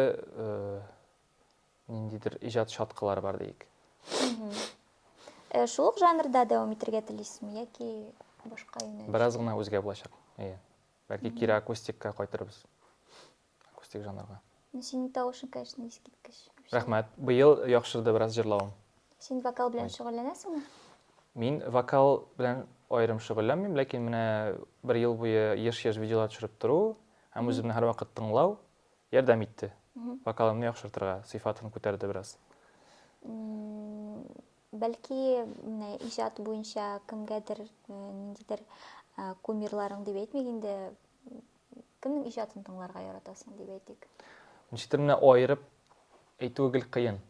ниндидер иҗат шаткалары бар диик. Шул ук жанрда дәвам итәргә телисезме яки башка юнәлеш? Бераз гына үзгә булачак. Әйе. Бәлки кире акустикка кайтырбыз. Акустик жанрга. Ну, синең тавышың, конечно, искиткеч. Рәхмәт. Быел яхшырды бераз җырлавым. Син вокал белән шөгыльләнәсеңме? Мин вокал белән аерым шөгыльләнмим, ләкин менә бер ел буе еш-еш видеолар төшереп тору һәм үземне һәрвакыт тыңлау ярдәм итте. Вокалымны яхшыртырга, сыйфатын күтәрде бераз. Бәлки, менә иҗат буенча кемгәдер, э, ниндидер э, кумирларың дип әйтмик инде, кемнең иҗатын тыңларга яратасың дип әйтик. Ничектер менә аерып әйтүе гел кыен.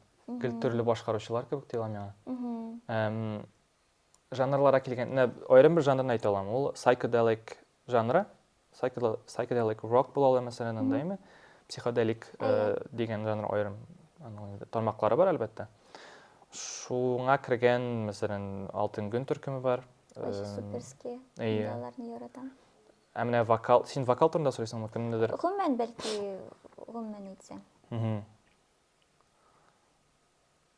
Гел төрле башкаручылар кебек тоела миңа. Жанрлара килгән, менә аерым бер жанрын әйтә алам. Ул psychedelic жанры. Сайкеделик рок була ала мәсәлән анда име? Психоделик дигән жанр аерым тармаклары бар әлбәттә. Шуңа кергән, мәсәлән, Алтын гөн төркеме бар. Очень суперские. Әйе. Аларны яратам. Ә менә вокал, син вокал турында сөйлисең, мөмкин нидер. Гомумән бәлки, гомумән әйтсәң.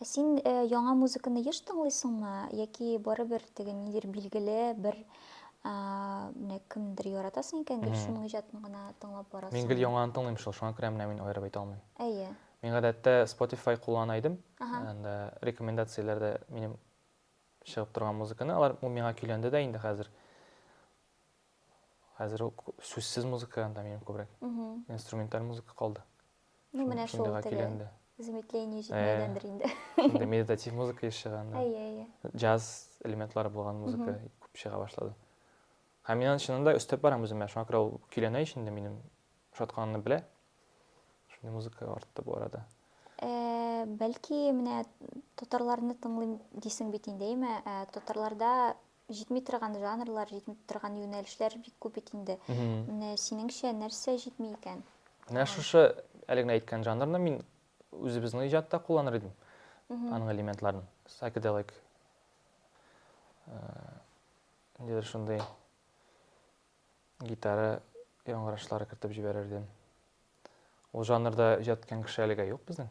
Ә син э, яңа музыканы еш тыңлыйсыңмы? Яки барыбер теге нидер билгеле бер ә, менә кемдер яратасың икән гел шуның иҗатын гына тыңлап барасың? Мин гел яңаны тыңлыйм шул, шуңа күрә менә мин аерып әйтә алмыйм. Әйе. Мин гадәттә Spotify куллана идем. Анда рекомендацияләрдә минем чыгып торган музыканы, алар ул миңа көйләнде дә инде хәзер. Хәзер сүзсез музыка анда минем күбрәк. Инструменталь музыка калды. Ну, менә шул теге замедление җитмәгәндер инде. Инде медитатив музыка еш чыга анда. Әйе, әйе. Джаз элементлары булган музыка күп чыга башлады. Һәм мин аны чыннан да өстәп барам үземә. Шуңа күрә ул көйләнә ич инде минем шатканны белә. Шундый музыка артты бу арада. Э, бәлки менә татарларны тыңлыйм дисең бит инде, әйме? Э, татарларда җитми торган жанрлар, җитми торган юнәлешләр бик күп бит инде. Менә синеңчә нәрсә җитми икән? Менә шушы әле генә әйткән жанрны мин үзебезнең иҗатта кулланыр идем. Аның элементларын, psychedelic. Ниндидер э, шундый гитара яңгырашлары кертеп җибәрер идем. Ул жанрда иҗат иткән кеше әлегә юк безнең.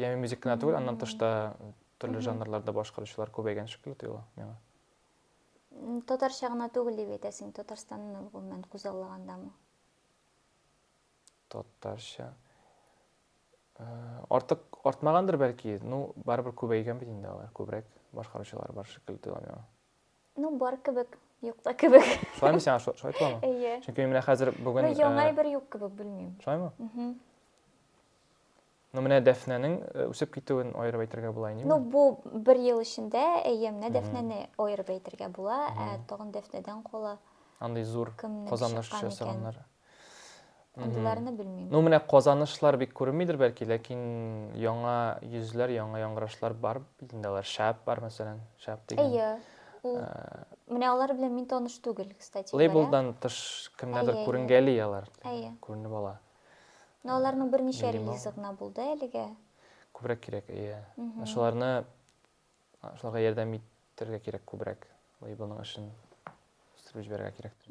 Яме мюзик кенә түгел, аннан тыш та төрле жанрларда башкаручылар күбәйгән шикелле тоела миңа. Татарча гына түгел дип әйтәсең, Татарстанны гомумән күзаллагандамы? Татарча. Э, артык артмагандыр бәлки, ну барыбер күбәйгән бит инде алар, күбрәк башкаручылар бар шикелле тоела миңа. Ну бар кебек, юк та кебек. Шулаймы сиңа шулай толамы? Әйе. Чөнки менә хәзер бүген Ну яңа э, бер юк кебек, белмим. Шулаймы? Ну, менә Дәфнәнең э, үсеп китүен аерып әйтергә була инде. Ну, бу бер ел эчендә, әйе, менә Дәфнәне аерып әйтергә була, ә тагын Дәфнәдән кала. Андый зур казаныш ясаганнар. Андыйларны белмим. Ну, менә казанышлар бик күренмидер бәлки, ләкин яңа йөзләр, яңа яңгырашлар бар. Инде алар шәп бар, мәсәлән, шәп дигән. Әйе. Ул менә алар белән мин таныш түгел, кстати. Лейблдан тыш кемнәрдер күренгәли алар. Әйе. Күренеп ала. Менә аларның берничә релизы гына булды әлегә. Күбрәк кирәк, әйе. Шуларны шуларга ярдәм итәргә кирәк күбрәк. Лейблның эшен үстереп җибәрергә кирәк.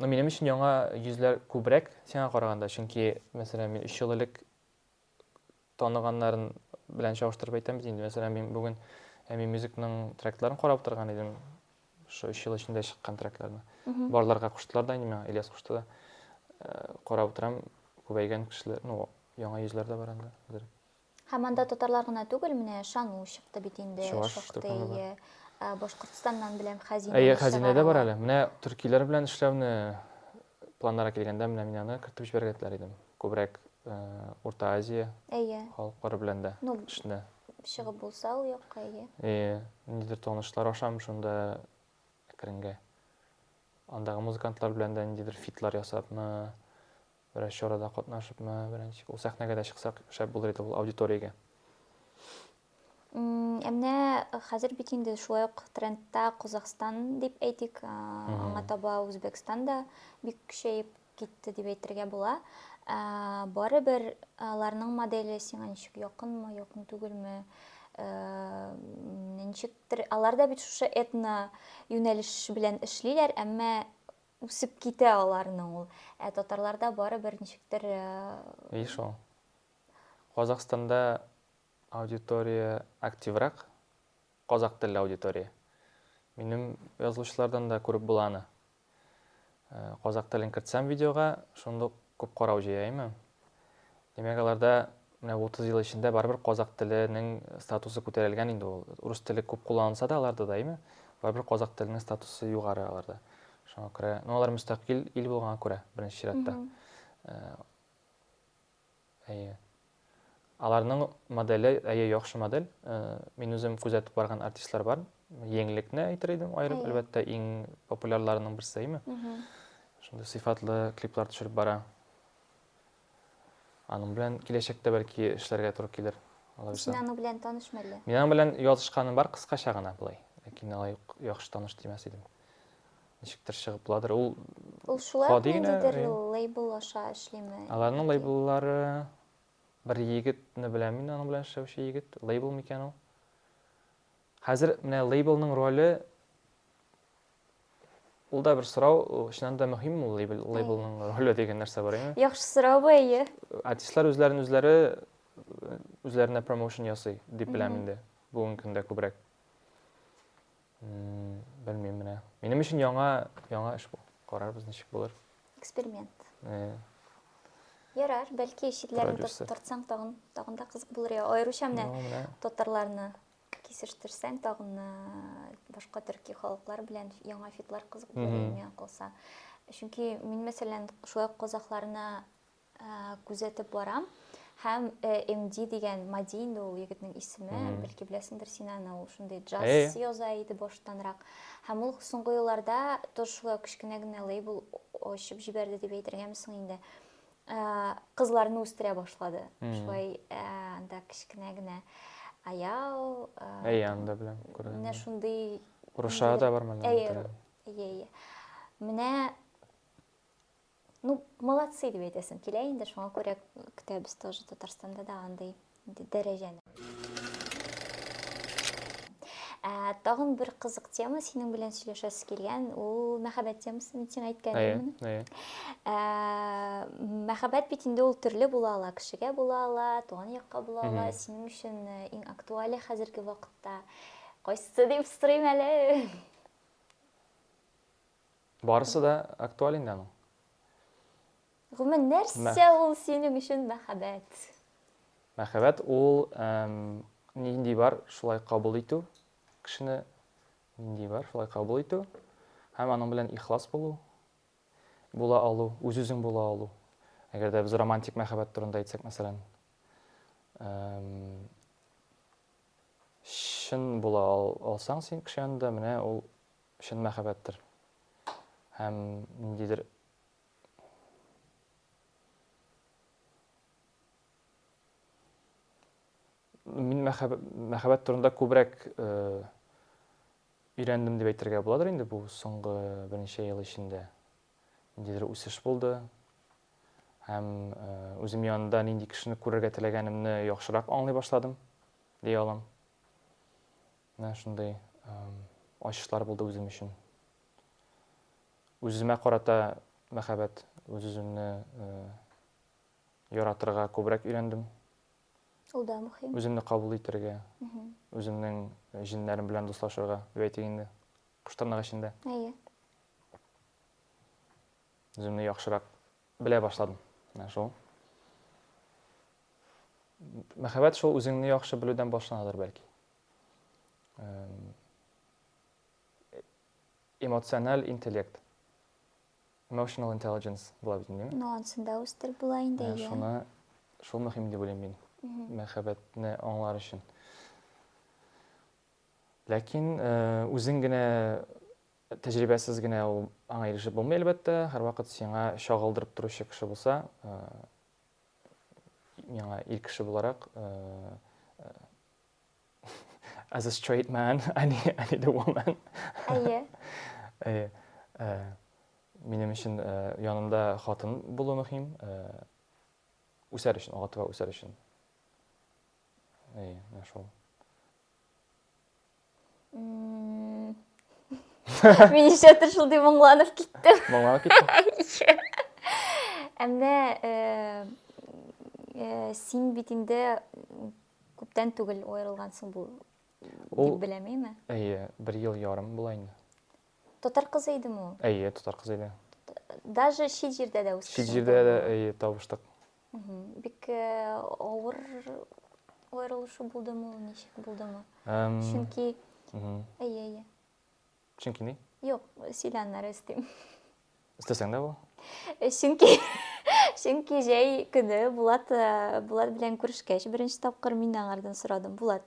Но минем өчен яңа йөзләр күбрәк сиңа караганда, чөнки, мәсәлән, мин өч ел элек таныганнарын белән чагыштырып әйтәм бит инде. Мәсәлән, мин бүген Әми мюзикның тректларын карап утырган идем. Шул 3 ел эчендә чыккан трекларны. Барларга куштылар да инде миңа, Ильяс кушты да. Э, карап утырам, күбәйгән кешеләр, ну, яңа йөзләр дә бар инде. Хәзер. Һәм анда татарлар гына түгел, менә Шану чыкты бит инде, Чуваш чыкты, шактый. Башкортстаннан беләм, Хәзинә. Әйе, Хәзинә дә бар әле. Менә төркиләр белән эшләүне Планнарга килгәндә, менә мин аны кертеп җибәрергә теләр идем. Күбрәк Урта Азия халыклары белән дә эшне. Чыгып булса ул якка, әйе. Әйе, ниндидер танышлар ашам шунда әкренгә. Андагы музыкантлар белән дә ниндидер фитлар ясапмы, берәр чарада катнашыпмы, берәр ничек. Ул сәхнәгә дә чыксак, шәп булыр иде ул аудиториягә. Ә менә хәзер бит инде шулай ук трендта Казахстан дип әйтик, аңа таба Үзбәкстан да бик көчәеп китте дип әйтергә була. Барыбер аларның моделе сиңа ничек якынмы, якын түгелме? Ничектер алар да бит шушы этно юнәлеш белән эшлиләр, әмма үсеп китә аларның ул. Ә татарларда барыбер ничектер Еш ул. Казахстанда Аудитория активрак, казакъ телле аудитория. Минем язылучылардан да күреп була аны. Э, казакъ телен кертсәм видеога, шундук күп карау җыя име. Димәк, аларда менә 30 ел эчендә барыбер казакъ теленең статусы күтәрелгән инде ул. Рус теле күп кулланылса да аларда да, име? Барыбер казакъ теленең статусы югары аларда. Шуңа күрә, ну алар мөстәкыйль ил булганга күрә, беренче чиратта. Э, Әйе. Аларның моделе, әйе, яхшы модель. Мин үзем күзәтеп барган артистлар бар. Еңлекне әйтер идем аерым, әлбәттә, иң популярларының берсе, әйме? Шундый сыйфатлы клиплар төшереп бара. Аның белән киләчәктә бәлки эшләргә туры килер. Син аның белән таныш мәллә? Мин аның белән язышканым бар кыскача гына былай. Ләкин алай яхшы таныш димәс идем. ничектер чыгыпладыр. Ул Ул шулай ук гади генә, ниндидер э. лейбл аша эшлиме? Аларның яки- лейбллары бер егетне беләм мин, аның белән эшләүче егет, лейбл микән ул? Хәзер менә лейблның роле ул да бер сорау, ул чыннан да мөһимме ул лейбл, лейблның роле дигән нәрсә бар, әйеме? Яхшы сорау бу, әйе. Артистлар үзләрен үзләре э, үзләренә промоушен ясый дип беләм инде бүгенге көндә күбрәк. Белмим менә. Минем өчен яңа, яңа эш бу. Карарбыз ничек булыр. Эксперимент. Э. Ярар, бәлки читләрен тортсаң тагын, тагын да кызык булыр. Я, аеруча менә татарларны кисештерсәң тагын башка төрки халыклар белән яңа фитлар кызык булыр иде миңа калса. Чөнки мин мәсәлән шулай казахларны күзәтеп барам һәм МД дигән Мади инде ул егетнең исеме, бәлки беләсеңдер син аны, ул шундый джаз яза иде баштанрак. Һәм ул соңгы елларда тоже шулай кечкенә генә лейбл ачып җибәрде дип әйтергәме соң инде. Кызларны үстерә башлады. Шулай анда кечкенә генә Аял, Аян да беләм күргән. Менә шундый Руша да бар менә. Әйе, әйе. Менә ну молодцы дип әйтәсем килә инде шуңа күрә көтәбез тоже татарстанда да андый дәрәҗәне ә, тагын бер кызык тема синең белән сөйләшәсе килгән ул мәхәббәт темасы мин сиңа әйткәнмен ә, мәхәббәт бит инде ул төрле була ала кешегә була ала туган якка була ала синең өчен иң актуале хәзерге вакытта кайсы дип сорыйм әле Барысы да актуаль инде аның. Гомумән, нәрсә ул синең өчен мәхәббәт? Мәхәббәт ул нинди бар, шулай кабул итү, кешене нинди бар, шулай кабул итү һәм аның белән ихлас булу, була алу, үз-үзең була алу. Әгәр дә без романтик мәхәббәт турында әйтсәк, мәсәлән, чын була алсаң син кеше янында, менә ул Чын мәхәббәттер. Һәм ниндидер Мин мәхәббәт турында күбрәк өйрәндем дип әйтергә буладыр инде бу соңгы берничә ел эчендә. Ниндидер үсеш булды. Һәм үзем янында нинди кешене күрергә теләгәнемне яхшырак аңлый башладым, дия алам. Менә шундый ачышлар булды үзем өчен. Үземә карата мәхәббәт, үз-үземне яратырга күбрәк өйрәндем. Ул да мөһим. Үземне кабул итәргә, үземнең э, җеннәрем белән дуслашырга, дип әйтик инде. Кыштырнак эчендә. Әйе. Үземне яхшырак белә башладым. Менә шул. Мәхәббәт шул үзеңне яхшы белүдән башланадыр бәлки. эмоциональ интеллект emotional intelligence була бит инде ну ансында үстереп була инде иә шуны шул мөһим дип уйлыйм мин мәхәббәтне аңлар өчен ләкин үзең генә тәҗрибәсез генә ул аңа ирешеп булмый әлбәттә һәрвакыт сиңа чагылдырып торучы кеше булса миңа ир кеше буларак As a straight man, I need, I need a woman. Әйе. Әйе. Э, Минем өчен э, янымда хатын булу мөһим. Э, Үсәр өчен, алга таба үсәр өчен. Әйе, менә шул. М, Мин нишләптер шундый моңланып киттем. Моңланып киттем. Ә менә э, э, син бит инде Күптән түгел аерылгансың бу дип беләм, әйме? Әйе, бер ел ярым була инде. Татар кызы идеме ул? Әйе, татар кызы иде. Даже чит җирдә дә үскән. Чит җирдә дә әйе табыштык. Бик э, авыр аерылышу булдымы ул, ничек булдымы? Чөнки әйе, әйе. Чөнки ни? Юк, сөйләннәр өстим. Өстәсәң дә бу? Э, чөнки чөнки җәй көне Булат э, Булат белән күрешкәч, беренче тапкыр мин аңардан сорадым. Булат,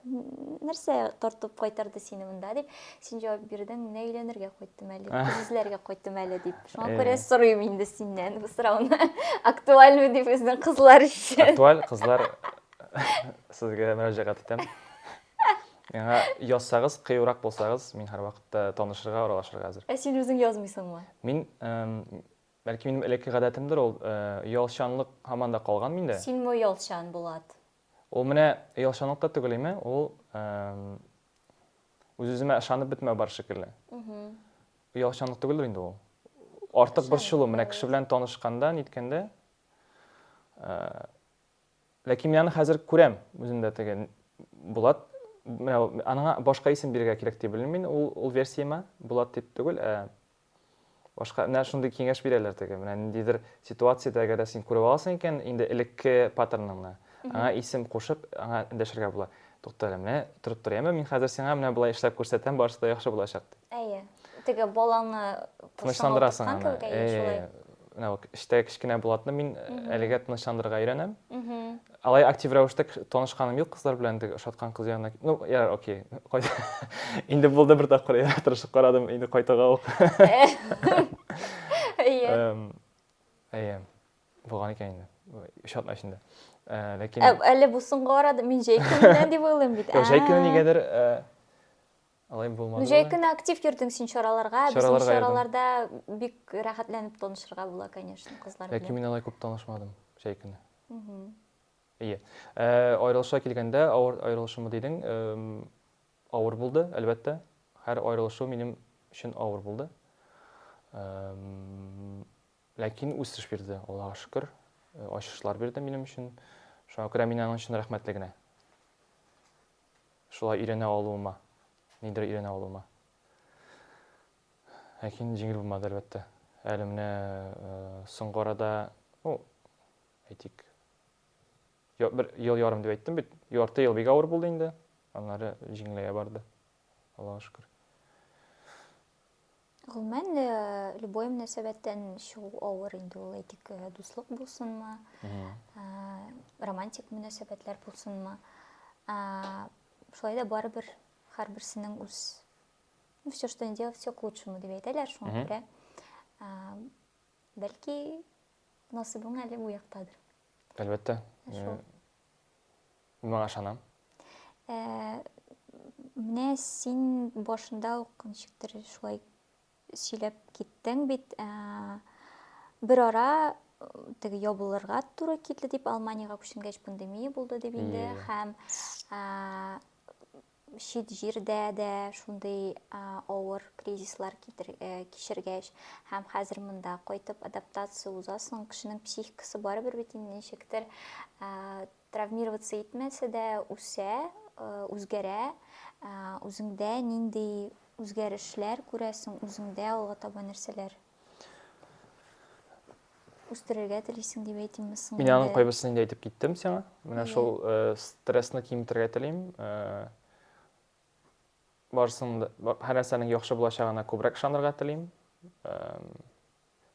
нәрсә тартып кайтарды сине монда дип, син җавап бирдең, менә өйләнергә кайттым әле, күзләргә кайттым әле дип. Шуңа э. күрә сорыйм инде синнән бу сорауны. Актуальмы дип безнең кызлар өчен. Актуаль кызлар сезгә мөрәҗәгать итәм. Миңа язсагыз, кыюрак булсагыз, мин һәрвакытта танышырга, аралашырга әзер. Ә син үзең язмыйсыңмы? Мин, бәлки минем элекке гадәтемдер ул, оялчанлык һаман да калган миндә. Синме оялчан, Булат? Ул менә оялчанлык та түгел име, ул үз-үземә ышанып бетмәү бар шикелле. Оялчанлык түгелдер инде ул. Артык борчылу, менә кеше белән танышканда, ниткәндә, Ләкин мин аны хәзер күрәм үзендә теге Булат менә аңа башка исем бирергә кирәк дип белмим мин ул ул версияма Булат дип түгел ә башка менә шундый киңәш бирәләр теге менә ниндидер ситуациядә әгәр дә син күреп аласың икән инде элекке паттерныңны аңа исем кушып аңа дәшергә була тукта әле менә торып тор яме мин хәзер сиңа менә болай эшләп күрсәтәм барысы да яхшы булачак дип әйе теге баланы тынычландырасың аны менә бу эштә кечкенә булатны мин әлегә тынычландырырга өйрәнәм алай актив рәвештә танышканым юк кызлар белән теге ошаткан кыз янына ну я окей инде булды бер тапкыр я тырышып карадым инде кайтуга ук әйе булган икән инде өч атна эчендә ләкин әле бу соңгы арада мин җәй көненә дип уйлыйм бит җәй көне нигәдер Алай булмады. Ну, җәй көне актив йөрдең син чараларга. Безнең чараларда бик рәхәтләнеп танышырга була, конечно, кызлар белән. Ләкин мин алай күп танышмадым җәй көне. Ие. Э, аерылыша килгәндә, авыр аерылышымы дидең, авыр булды, әлбәттә. Һәр аерылышу минем өчен авыр булды. Ләкин үсеш бирде, Аллага шөкер. Э, ачышлар бирде минем өчен. Шуңа күрә мин аның өчен рәхмәтле генә. шулай өйрәнә алуыма, нидер өйрәнә алуыма. Ләкин җиңел булмады, әлбәттә. Әле менә соңгы арада, ну, әйтик, бер ел ярым дип әйттем бит, ярты ел бик авыр булды инде, аннары җиңеләя барды, Аллага шөкер. Гомумән, любой мөнәсәбәттән чыгу авыр инде ул, әйтик, дуслык булсынмы, романтик мөнәсәбәтләр булсынмы. Шулай да барыбер һәрберсенең үз ну, все, что не делал, все к лучшему дип әйтәләр, шуңа күрә бәлки насыбың әле бу яктадыр. Әлбәттә. Мин моңа ышанам. Ә, менә син башында ук ничектер шулай сөйләп киттең бит. Ә, бер ара теге ябылырга туры килде дип, Алманиягә күченгәч пандемия булды дип инде һәм чит җирдә дә шундый авыр кризислар э, кичергәч һәм хәзер монда кайтып адаптация узасың кешенең психикасы барыбер бит инде ничектер э, травмироваться итмәсә дә үсә э, үзгәрә үзеңдә нинди үзгәрешләр күрәсең үзеңдә алга таба нәрсәләр үстерергә телисең дип әйтимме соң мин аның кайбысын инде әйтеп киттем сиңа менә шул э, стрессны киметергә телим э, барысын һәр нәрсәнең яхшы булачагына күбрәк ышанырга телим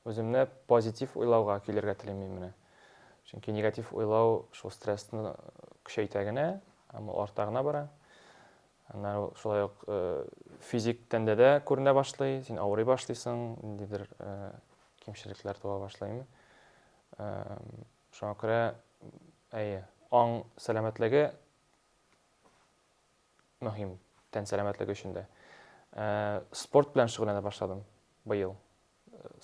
үземне позитив уйлауга килергә телим мин менә чөнки негатив уйлау шул стрессны көчәйтә генә һәм ул арта гына бара Аннары ул шулай ук физик тәндә дә күренә башлый, син авырый башлыйсың, ниндидер кимчелекләр туа башлыймы. Шуңа күрә, әйе, аң сәламәтлеге мөһим, тән сәламәтлеге өчен дә. Спорт белән шөгыльләнә башладым быел.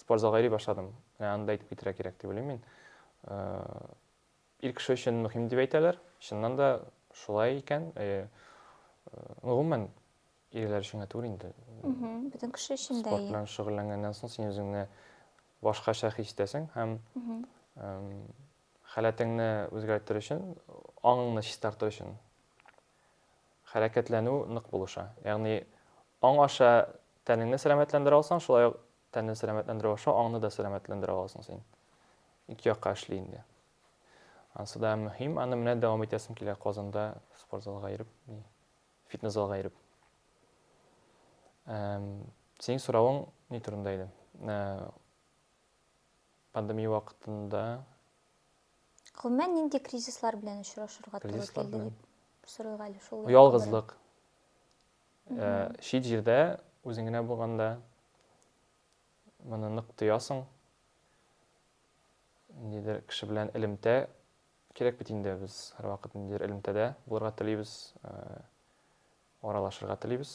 Спортзалга йөри башладым. Аны да әйтеп китәргә кирәк дип уйлыйм мин. Ир кеше өчен мөһим дип әйтәләр. Чыннан да шулай икән. Ну, гомумән, ирләр өчен генә түгел инде. Бөтен кеше өчен дә. Спорт белән шөгыльләнгәннән соң син үзеңне башкача хис итәсең һәм халәтеңне үзгәртер өчен, аңыңны чистартыр өчен хәрәкәтләнү нык булыша. Ягъни аң аша тәнеңне сәламәтләндерә алсаң, шулай ук Тәнне сәламәтләндерү аша аңны да сәламәтләндерә аласың син. Ике якка эшли инде. Ансы да мөһим, аны менә дәвам итәсем килә Казанда спортзалга йөреп, фитнес-залга йөреп. Синең соравың ни турында иде? Э, пандемия вакытында Гомумән нинди кризислар белән очрашырга туры килде дип сорыйга әле шул. Ялгызлык. Ә, чит җирдә, үзең генә булганда, моны нык тоясың. Ниндидер кеше белән элемтә кирәк бит инде, без һәрвакыт ниндидер элемтәдә булырга телибез, ә, аралашырга телибез.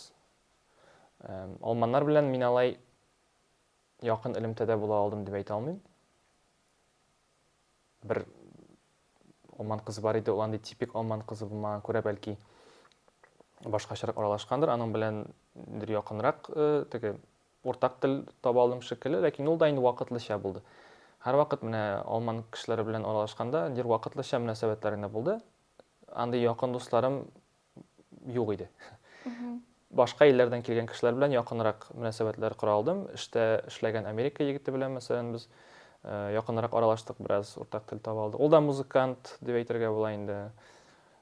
Ә, алманнар белән мин алай якын элемтәдә була алдым дип әйтә алмыйм. Бер алман кызы бар иде, ул андый типик алман кызы булмаган күрә бәлки башкачарак аралашкандыр, аның белән бер якынрак э, теге уртак тел таба алдым шикелле, ләкин ул да инде вакытлыча булды. Һәр вакыт менә алман кешеләре белән аралашканда, дир вакытлыча мөнәсәбәтләр генә булды. Андый якын дусларым юк иде. Башка илләрдән килгән кешеләр белән якынрак мөнәсәбәтләр кора алдым. Эштә эшләгән Америка егете белән, мәсәлән, без э, якынрак аралаштык, бераз уртак тел таба алдык. Ул да музыкант дип әйтергә була инде.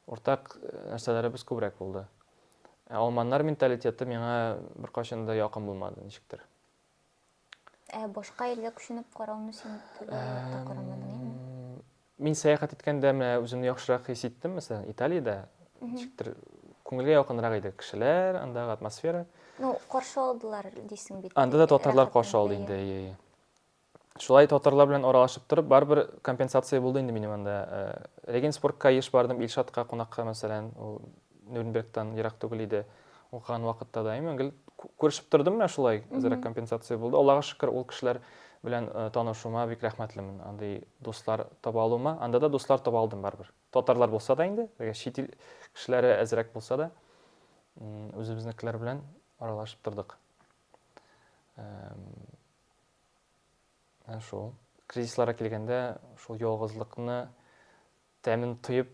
Уртак э, нәрсәләребез күбрәк булды. Ә алманнар менталитеты миңа беркайчан да якын булмады, ничектер. Ә башка илгә күченеп карауны син төгәлләп тә карамадың, әйеме? Мин сәяхәт иткәндә менә үземне яхшырак хис иттем, мәсәлән, Италиядә ничектер күңелгә якынрак иде кешеләр, андагы атмосфера. Ну, каршы алдылар дисең бит. Анда да татарлар каршы алды инде, әйе, әйе. Шулай татарлар белән аралашып торып, барыбер компенсация булды инде минем анда. Э, Регенсбургка еш бардым, Илшатка кунакка, мәсәлән, ул Нюрнбергтан ерак түгел иде. Укыган вакытта да имин гел күрешеп тордым менә шулай, әзрәк компенсация булды. Аллага шөкер, ул кешеләр белән э, танышуыма бик рәхмәтлемен. Андый дуслар таба алуыма. Анда да дуслар таба алдым барыбер. Татарлар булса да инде, әгәр чит ил кешеләре әзрәк булса да, үзебезнекеләр белән аралашып тордык. Ә шул кризисларга килгәндә, шул ялгызлыкны тәмен тоеп,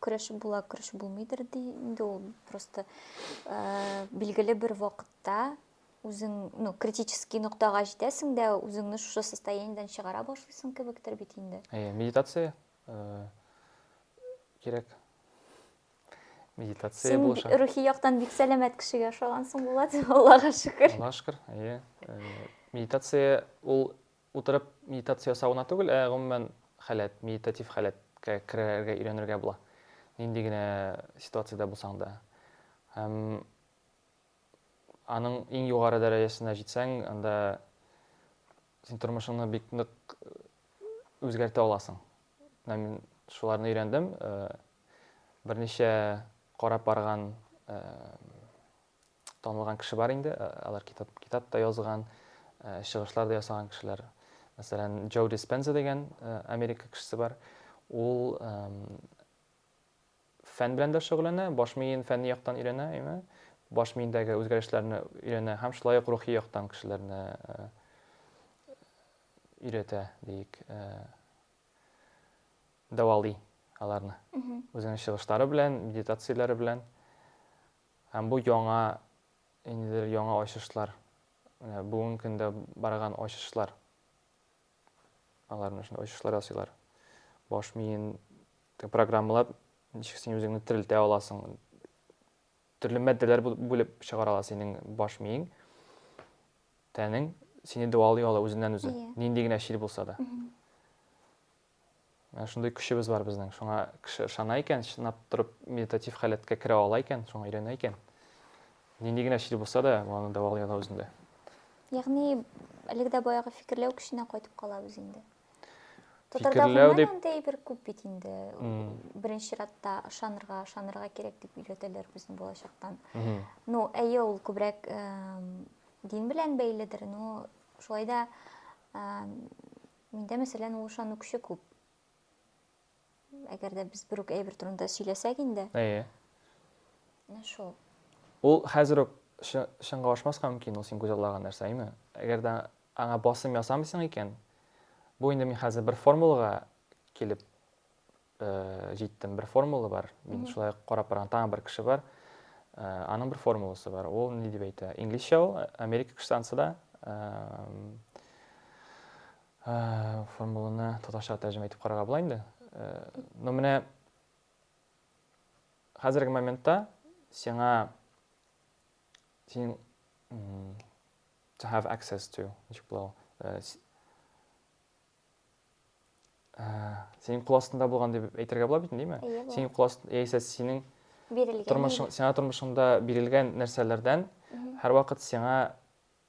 көрәшеп була, көрәшеп булмыйдыр ди. Инде ул просто э, билгеле бер вакытта үзең, ну, критический ноктага җитәсең дә, үзеңне шушы состояниедән чыгара башлыйсың кебектер бит инде. Әйе, медитация э, кирәк. Медитация Син булаша. рухи яктан бик сәламәт кешегә ошагансың, Булат, Аллага шөкер. Аллага шөкер, әйе. Э, медитация ул Утырып медитация ясау гына түгел, ә гомумән халәт, медитатив халәткә керергә өйрәнергә була. Нинди генә ситуациядә булсаң да. Һәм аның иң югары дәрәҗәсенә җитсәң, анда син тормышыңны бик нык үзгәртә аласың. Менә мин шуларны өйрәндем. Берничә карап барган танылган кеше бар инде, э, алар китап, китап та язган, э, чыгышлар да ясаган кешеләр. Мәсәлән, Джо Диспенза дигән э, Америка кешесе бар. Ул фән белән дә шөгыльләнә, баш миен фәнни яктан өйрәнә, әйме? Баш миендәге үзгәрешләрне өйрәнә һәм шулай ук рухи яктан кешеләрне өйрәтә, диик, дәвалый аларны. Үзенең чыгышлары белән, медитацияләре белән. Һәм бу яңа, ниндидер яңа ачышлар, менә бүгенге көндә барган ачышлар. Алар менә шундый ачышлар ясыйлар. Баш миен программалап, ничек син үзеңне терелтә аласың. Төрле матдәләр бүлеп чыгара ала синең баш миең, тәнең сине дәвалый ала үзеннән үзе, нинди генә чир булса да. Менә шундый көчебез бар безнең. Шуңа кеше ышана икән, чынлап торып медитатив халәткә керә ала икән, шуңа өйрәнә икән. Нинди генә чир булса да, аны дәвалый ала үзендә. Ягъни әлеге дә баягы фикерләү көченә кайтып калабыз инде. Татарда гомумән дип... андый бер күп бит инде. Mm. Беренче чиратта ышанырга, ышанырга кирәк дип өйрәтәләр безне балачактан. Mm -hmm. Ну, әйе, ул күбрәк э, дин белән бәйледер, но шулай да э, Миндә, мәсәлән, ул ышанукчы күп. Әгәр дә без бер үк әйбер турында сөйләсәк инде. Әйе. Менә шул. Ул хәзер үк чынга ашмаска мөмкин ул син күзаллаган нәрсә, әйме? Әгәр дә аңа басым ясамыйсың икән, бу инде мин хәзер бер формулага килеп җиттем. Бер формула бар. Мин шулай карап барган тагын бер кеше бар. Аның бер формуласы бар. Ул ни дип әйтә? Инглизчә ул, Америка кешесе анысы да. Формуланы татарча тәрҗемә итеп карарга була инде. Но менә хәзерге моментта сиңа син to have access to ничек була ул? ә, синең кул астында булган дип әйтергә була бит инде, Синең кул астында яисә синең бирелгән тормышың, сиңа тормышыңда бирелгән нәрсәләрдән һәрвакыт сиңа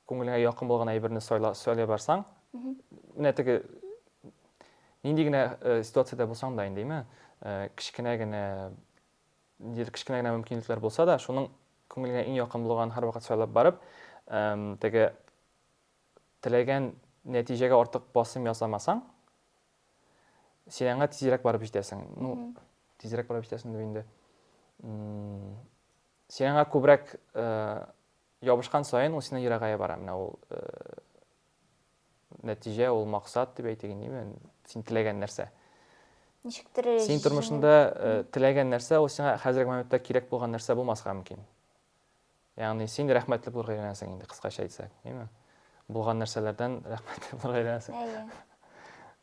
күңелеңә якын булган әйберне сайла, сайлай барсаң, менә теге нинди генә э, ситуациядә булсаң да инде, әйме, э, кечкенә генә ниндидер кечкенә генә мөмкинлекләр булса да, шуның күңелеңә иң якын булган һәрвакыт сайлап барып, теге Теләгән нәтиҗәгә артык басым ясамасаң, син аңа тизрәк барып җитәсең. Ну, тизрәк барып җитәсең дип инде. Син аңа күбрәк э, ябышкан саен ул синнән ерагая бара. Менә ул э, нәтиҗә, ул максат дип әйтик инде, син теләгән нәрсә. Ничектер Син тормышында э, теләгән нәрсә, ул сиңа хәзерге моментта кирәк булган нәрсә булмаска мөмкин. Ягъни син рәхмәтле булырга өйрәнәсең инде, кыскача әйтсәк, әйме? Булган нәрсәләрдән рәхмәтле булырга өйрәнәсең. Әйе.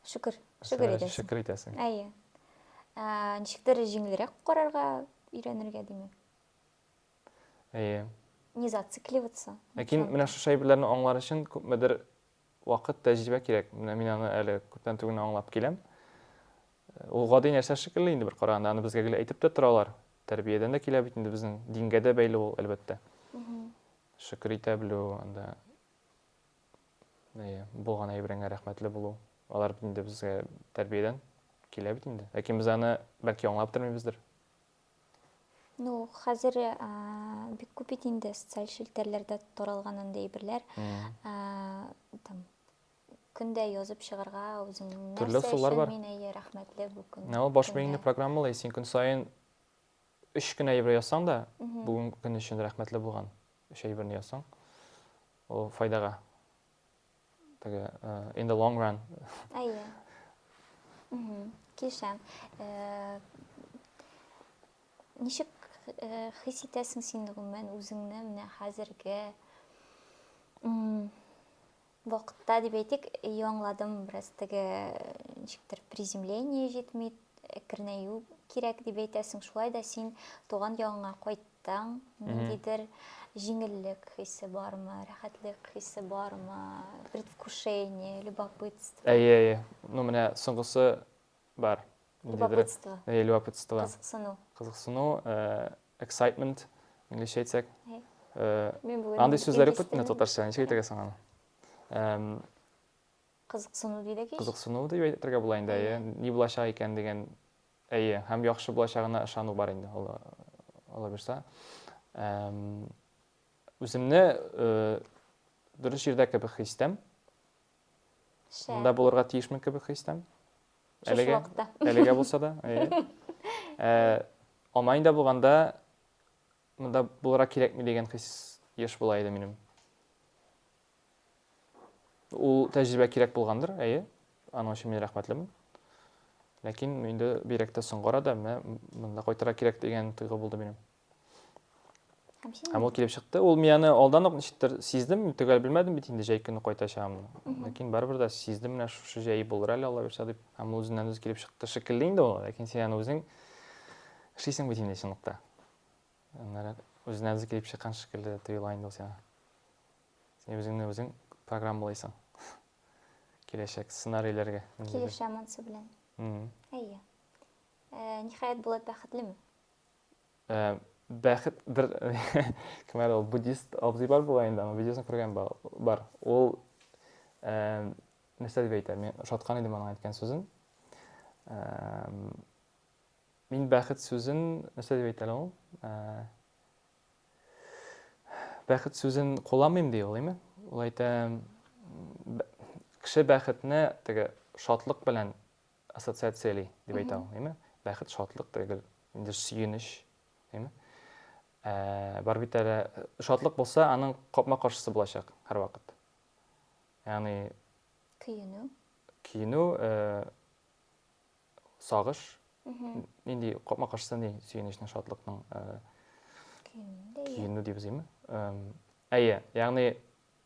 Шөкер, шөкер итәсең. Шөкер итәсең. Әйе. Ә, ничектер җиңелрәк карарга өйрәнергә димәк. Әйе. Не зацикливаться. Ләкин менә шушы әйберләрне аңлар өчен күпмедер Вакыт, тәҗрибә кирәк. Менә мин аны әле күптән түгел генә аңлап киләм. Ул гади нәрсә шикелле инде бер караганда, аны безгә гел әйтеп тә торалар. Тәрбиядән дә килә бит инде безнең, дингә дә бәйле ул, әлбәттә. Шөкер итә белү, анда әйе, булган әйбереңә рәхмәтле булу. Алар бит инде безгә тәрбиядән килә бит инде. Ләкин без аны бәлки аңлап тормыйбыздыр. Ну, хәзер э, бик күп бит инде социаль челтәрләрдә таралган андый әйберләр. Э, там көндә язып чыгарга үзең Төрле нәрсә ысуллар өчен бар. мин әйе рәхмәтле бу көн. Ә ул баш көнгә. миеңне программалый, син көн саен өч кенә әйбер язсаң да, Мгм. бүген көн өчен рәхмәтле булган өч әйберне язсаң, ул файдага Теге in the long run. Әйе. Килешәм. Ничек хис итәсең син гомумән үзеңне менә хәзерге вакытта дип әйтик, яңладым бераз теге ничектер приземление җитми, әкренәю кирәк дип әйтәсең. Шулай да син туган ягыңа кайт Таң, ниндидер җиңеллек хисе бармы, рәхәтлек хисе бармы, предвкушение, любопытство? Әйе, әйе. Ну, менә соңгысы бар. Любопытство. Әйе, любопытство. Кызыксыну. Кызыксыну, э, excitement, инглизчә әйтсәк. Э, андый сүзләр юк бит менә татарча, ничек әйтергә соң аны? Кызыксыну дидек ич. Кызыксыну дип әйтергә була инде, әйе. Ни булачак икән дигән Әйе, һәм яхшы булачагына ышану бар инде, олы, олы бирса. Үземне э, дөрес җирдә кебек хис итәм. Монда булырга тиешмен кебек хис итәм. Әлегә, әлегә булса да. Э, Алманида булганда монда булырга кирәкми дигән хис еш була иде минем. Ул тәҗрибә кирәк булгандыр, әйе. Аның өчен мин рәхмәтлемен. Ләкин инде бигрәк тә соңгы арада менә монда кайтырга кирәк дигән тойгы булды минем. Һәм син Һәм ул килеп чыкты. Ул мин аны алдан ук ничектер сиздем, мин төгәл белмәдем бит инде җәй көне кайтачагымны. Ләкин барыбер дә сиздем менә шушы җәе булыр әле Алла бирсә дип. Һәм ул үзеннән үзе килеп чыкты шикелле инде ул, ләкин син аны үзең эшлисең бит инде чынлыкта. Аннары үзенә үзе килеп чыккан шикелле тоела инде ул сиңа. Син үзеңне үзең программалыйсың. Киләчәк сценарийләргә. Килешә монсы белән. Әйе. Э, ниһаять Булат бәхетлеме? Э, бәхет бер кем әле ул буддист абзый бар була инде, аны видеосын күргән бар. Ул э, нәрсә дип әйтә? Мин ошаткан идем аның әйткән сүзен. Мин бәхет сүзен нәрсә дип әйтә ул? Бәхет сүзен кулланмыйм ди ул, әйме? Ул әйтә, кеше бәхетне теге шатлык белән ассоциацияли дип әйтә ул, әйме? Бәхет шатлык түгел, инде сөенеч, әйме? Ә, бар бит әле шатлык булса, аның капма-каршысы булачак һәрвакыт. Ягъни көенү. Көенү, э, сагыш, нинди капма каршысы ни сөенечнең, шатлыкның көенү дибез име? Әйе, ягъни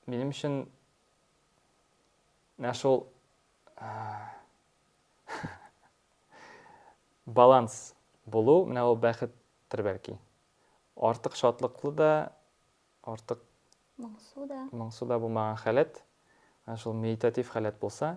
минем өчен менә шул баланс булу, менә ул бәхеттер бәлки. Артык шатлыклы да, артык моңсу да. Моңсу да булмаган халәт, шул медитатив халәт булса,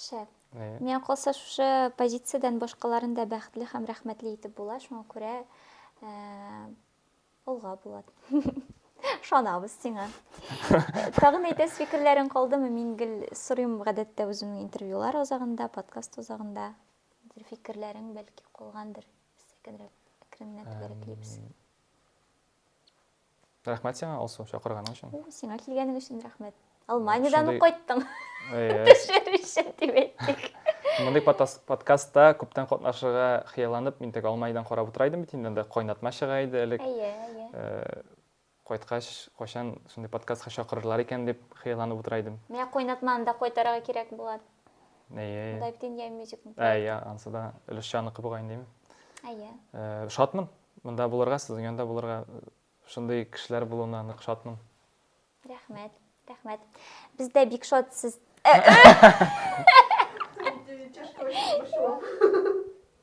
Шәп. Э. Миңа калса шушы позициядән башкаларын да бәхетле һәм рәхмәтле итеп була, шуңа күрә э, олга була. Шанабыз сиңа. Тагын әйтәс фикерләрең калдымы? Мин гел сорыйм гадәттә үземнең интервьюлар озагында, подкаст озагында. Бер фикерләрең бәлки калгандыр. Сәкенрәк, әкренләп бәрәклибез. Рәхмәт сиңа, Алсу, чакырганың өчен. Сиңа килгәнең өчен рәхмәт. Алманиядән үк кайттың. Төшер өчен дип әйттек. Мондый подкастта күптән катнашырга хыялланып, мин теге Алманиядән карап утыра идем бит инде, анда кайнатма чыга иде элек. Әйе, әйе. Э, кайткач, кайчан шундый подкастка чакырырлар икән дип хыялланып утыра идем. Менә кайнатманы да кайтарырга кирәк була. Әйе. Монда бит инде мюзикл. Әйе, ансы да өлешчәнныкы бугай инде. Әйе. Э, шатмын. Монда булырга, сезнең янда булырга, шундый кешеләр булуына нык шатмын. Рәхмәт, рәхмәт. Без дә бик шат сез.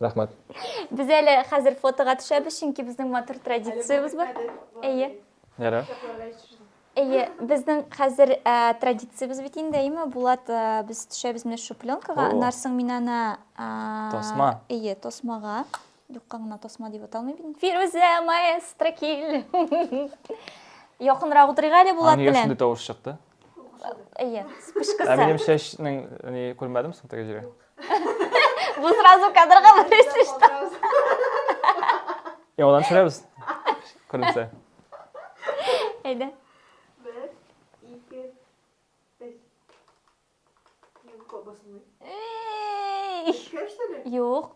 Рәхмәт. Без әле хәзер фотога төшәбез, чөнки безнең матур традициябез бар. Әйе. Ярар. Әйе, безнең хәзер ә, традициябез бит инде, әйеме, Булат, ә, без төшәбез менә шушы пленкага, О. аннан соң мин аны... ә, Тасма. Әйе, тасмага. Юкка гына тасма дип аталмый бит. Фирүзә маэстро кил. Якынрак утырыйк әле Булат белән. Аңа тавыш чыкты. Әйе, спышкасы. Ә минем чәчнең ни күрмәдем соң теге җиргә. Бу сразу кадрга берсе что. Яңадан төшерәбез. Күренсә. Әйдә. Юк.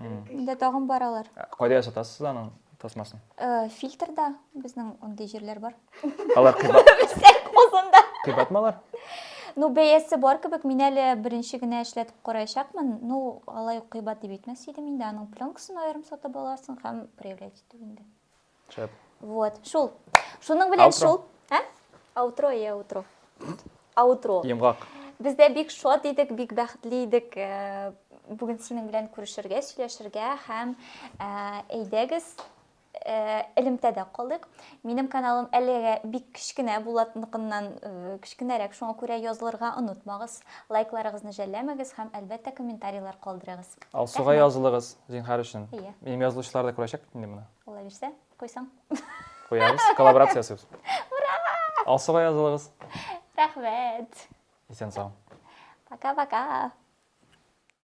Инде тагын баралар. Кайда ясатасыз аның тасмасын? Э, фильтрда безнең андый җирләр бар. Алар кыйбат. Озында. Кыйбатмы алар? Ну, бәясе бар кебек, мин әле беренче генә эшләтеп караячакмын. Ну, алай ук кыйбат дип әйтмәс идем инде. Аның пленкасын аерым сатып аласың һәм проявлять итү инде. Шәп. Вот, шул. Шуның белән Аутро. шул. Ә? Аутро, я аутро. Аутро. Йомгак. Без дә бик шат идек, бик бәхетле идек. Э, Бүген синең белән күрешергә, сөйләшергә һәм э, әйдәгез э, элемтәдә калдык. Минем каналым әлегә бик кечкенә Булатныкыннан э, кечкенәрәк, шуңа күрә язылырга онытмагыз. Лайкларыгызны жәлләмәгез һәм әлбәттә комментарийлар калдырыгыз. Алсуга Рәхмәт. язылыгыз, зинһар өчен. Әйе. Минем язылучылар да күрәчәк бит инде моны. Алла бирсә, куйсаң. Куябыз, коллаборация ясыйбыз. Ура! Алсуга язылыгыз. Рәхмәт. Исән сау. Пока-пока.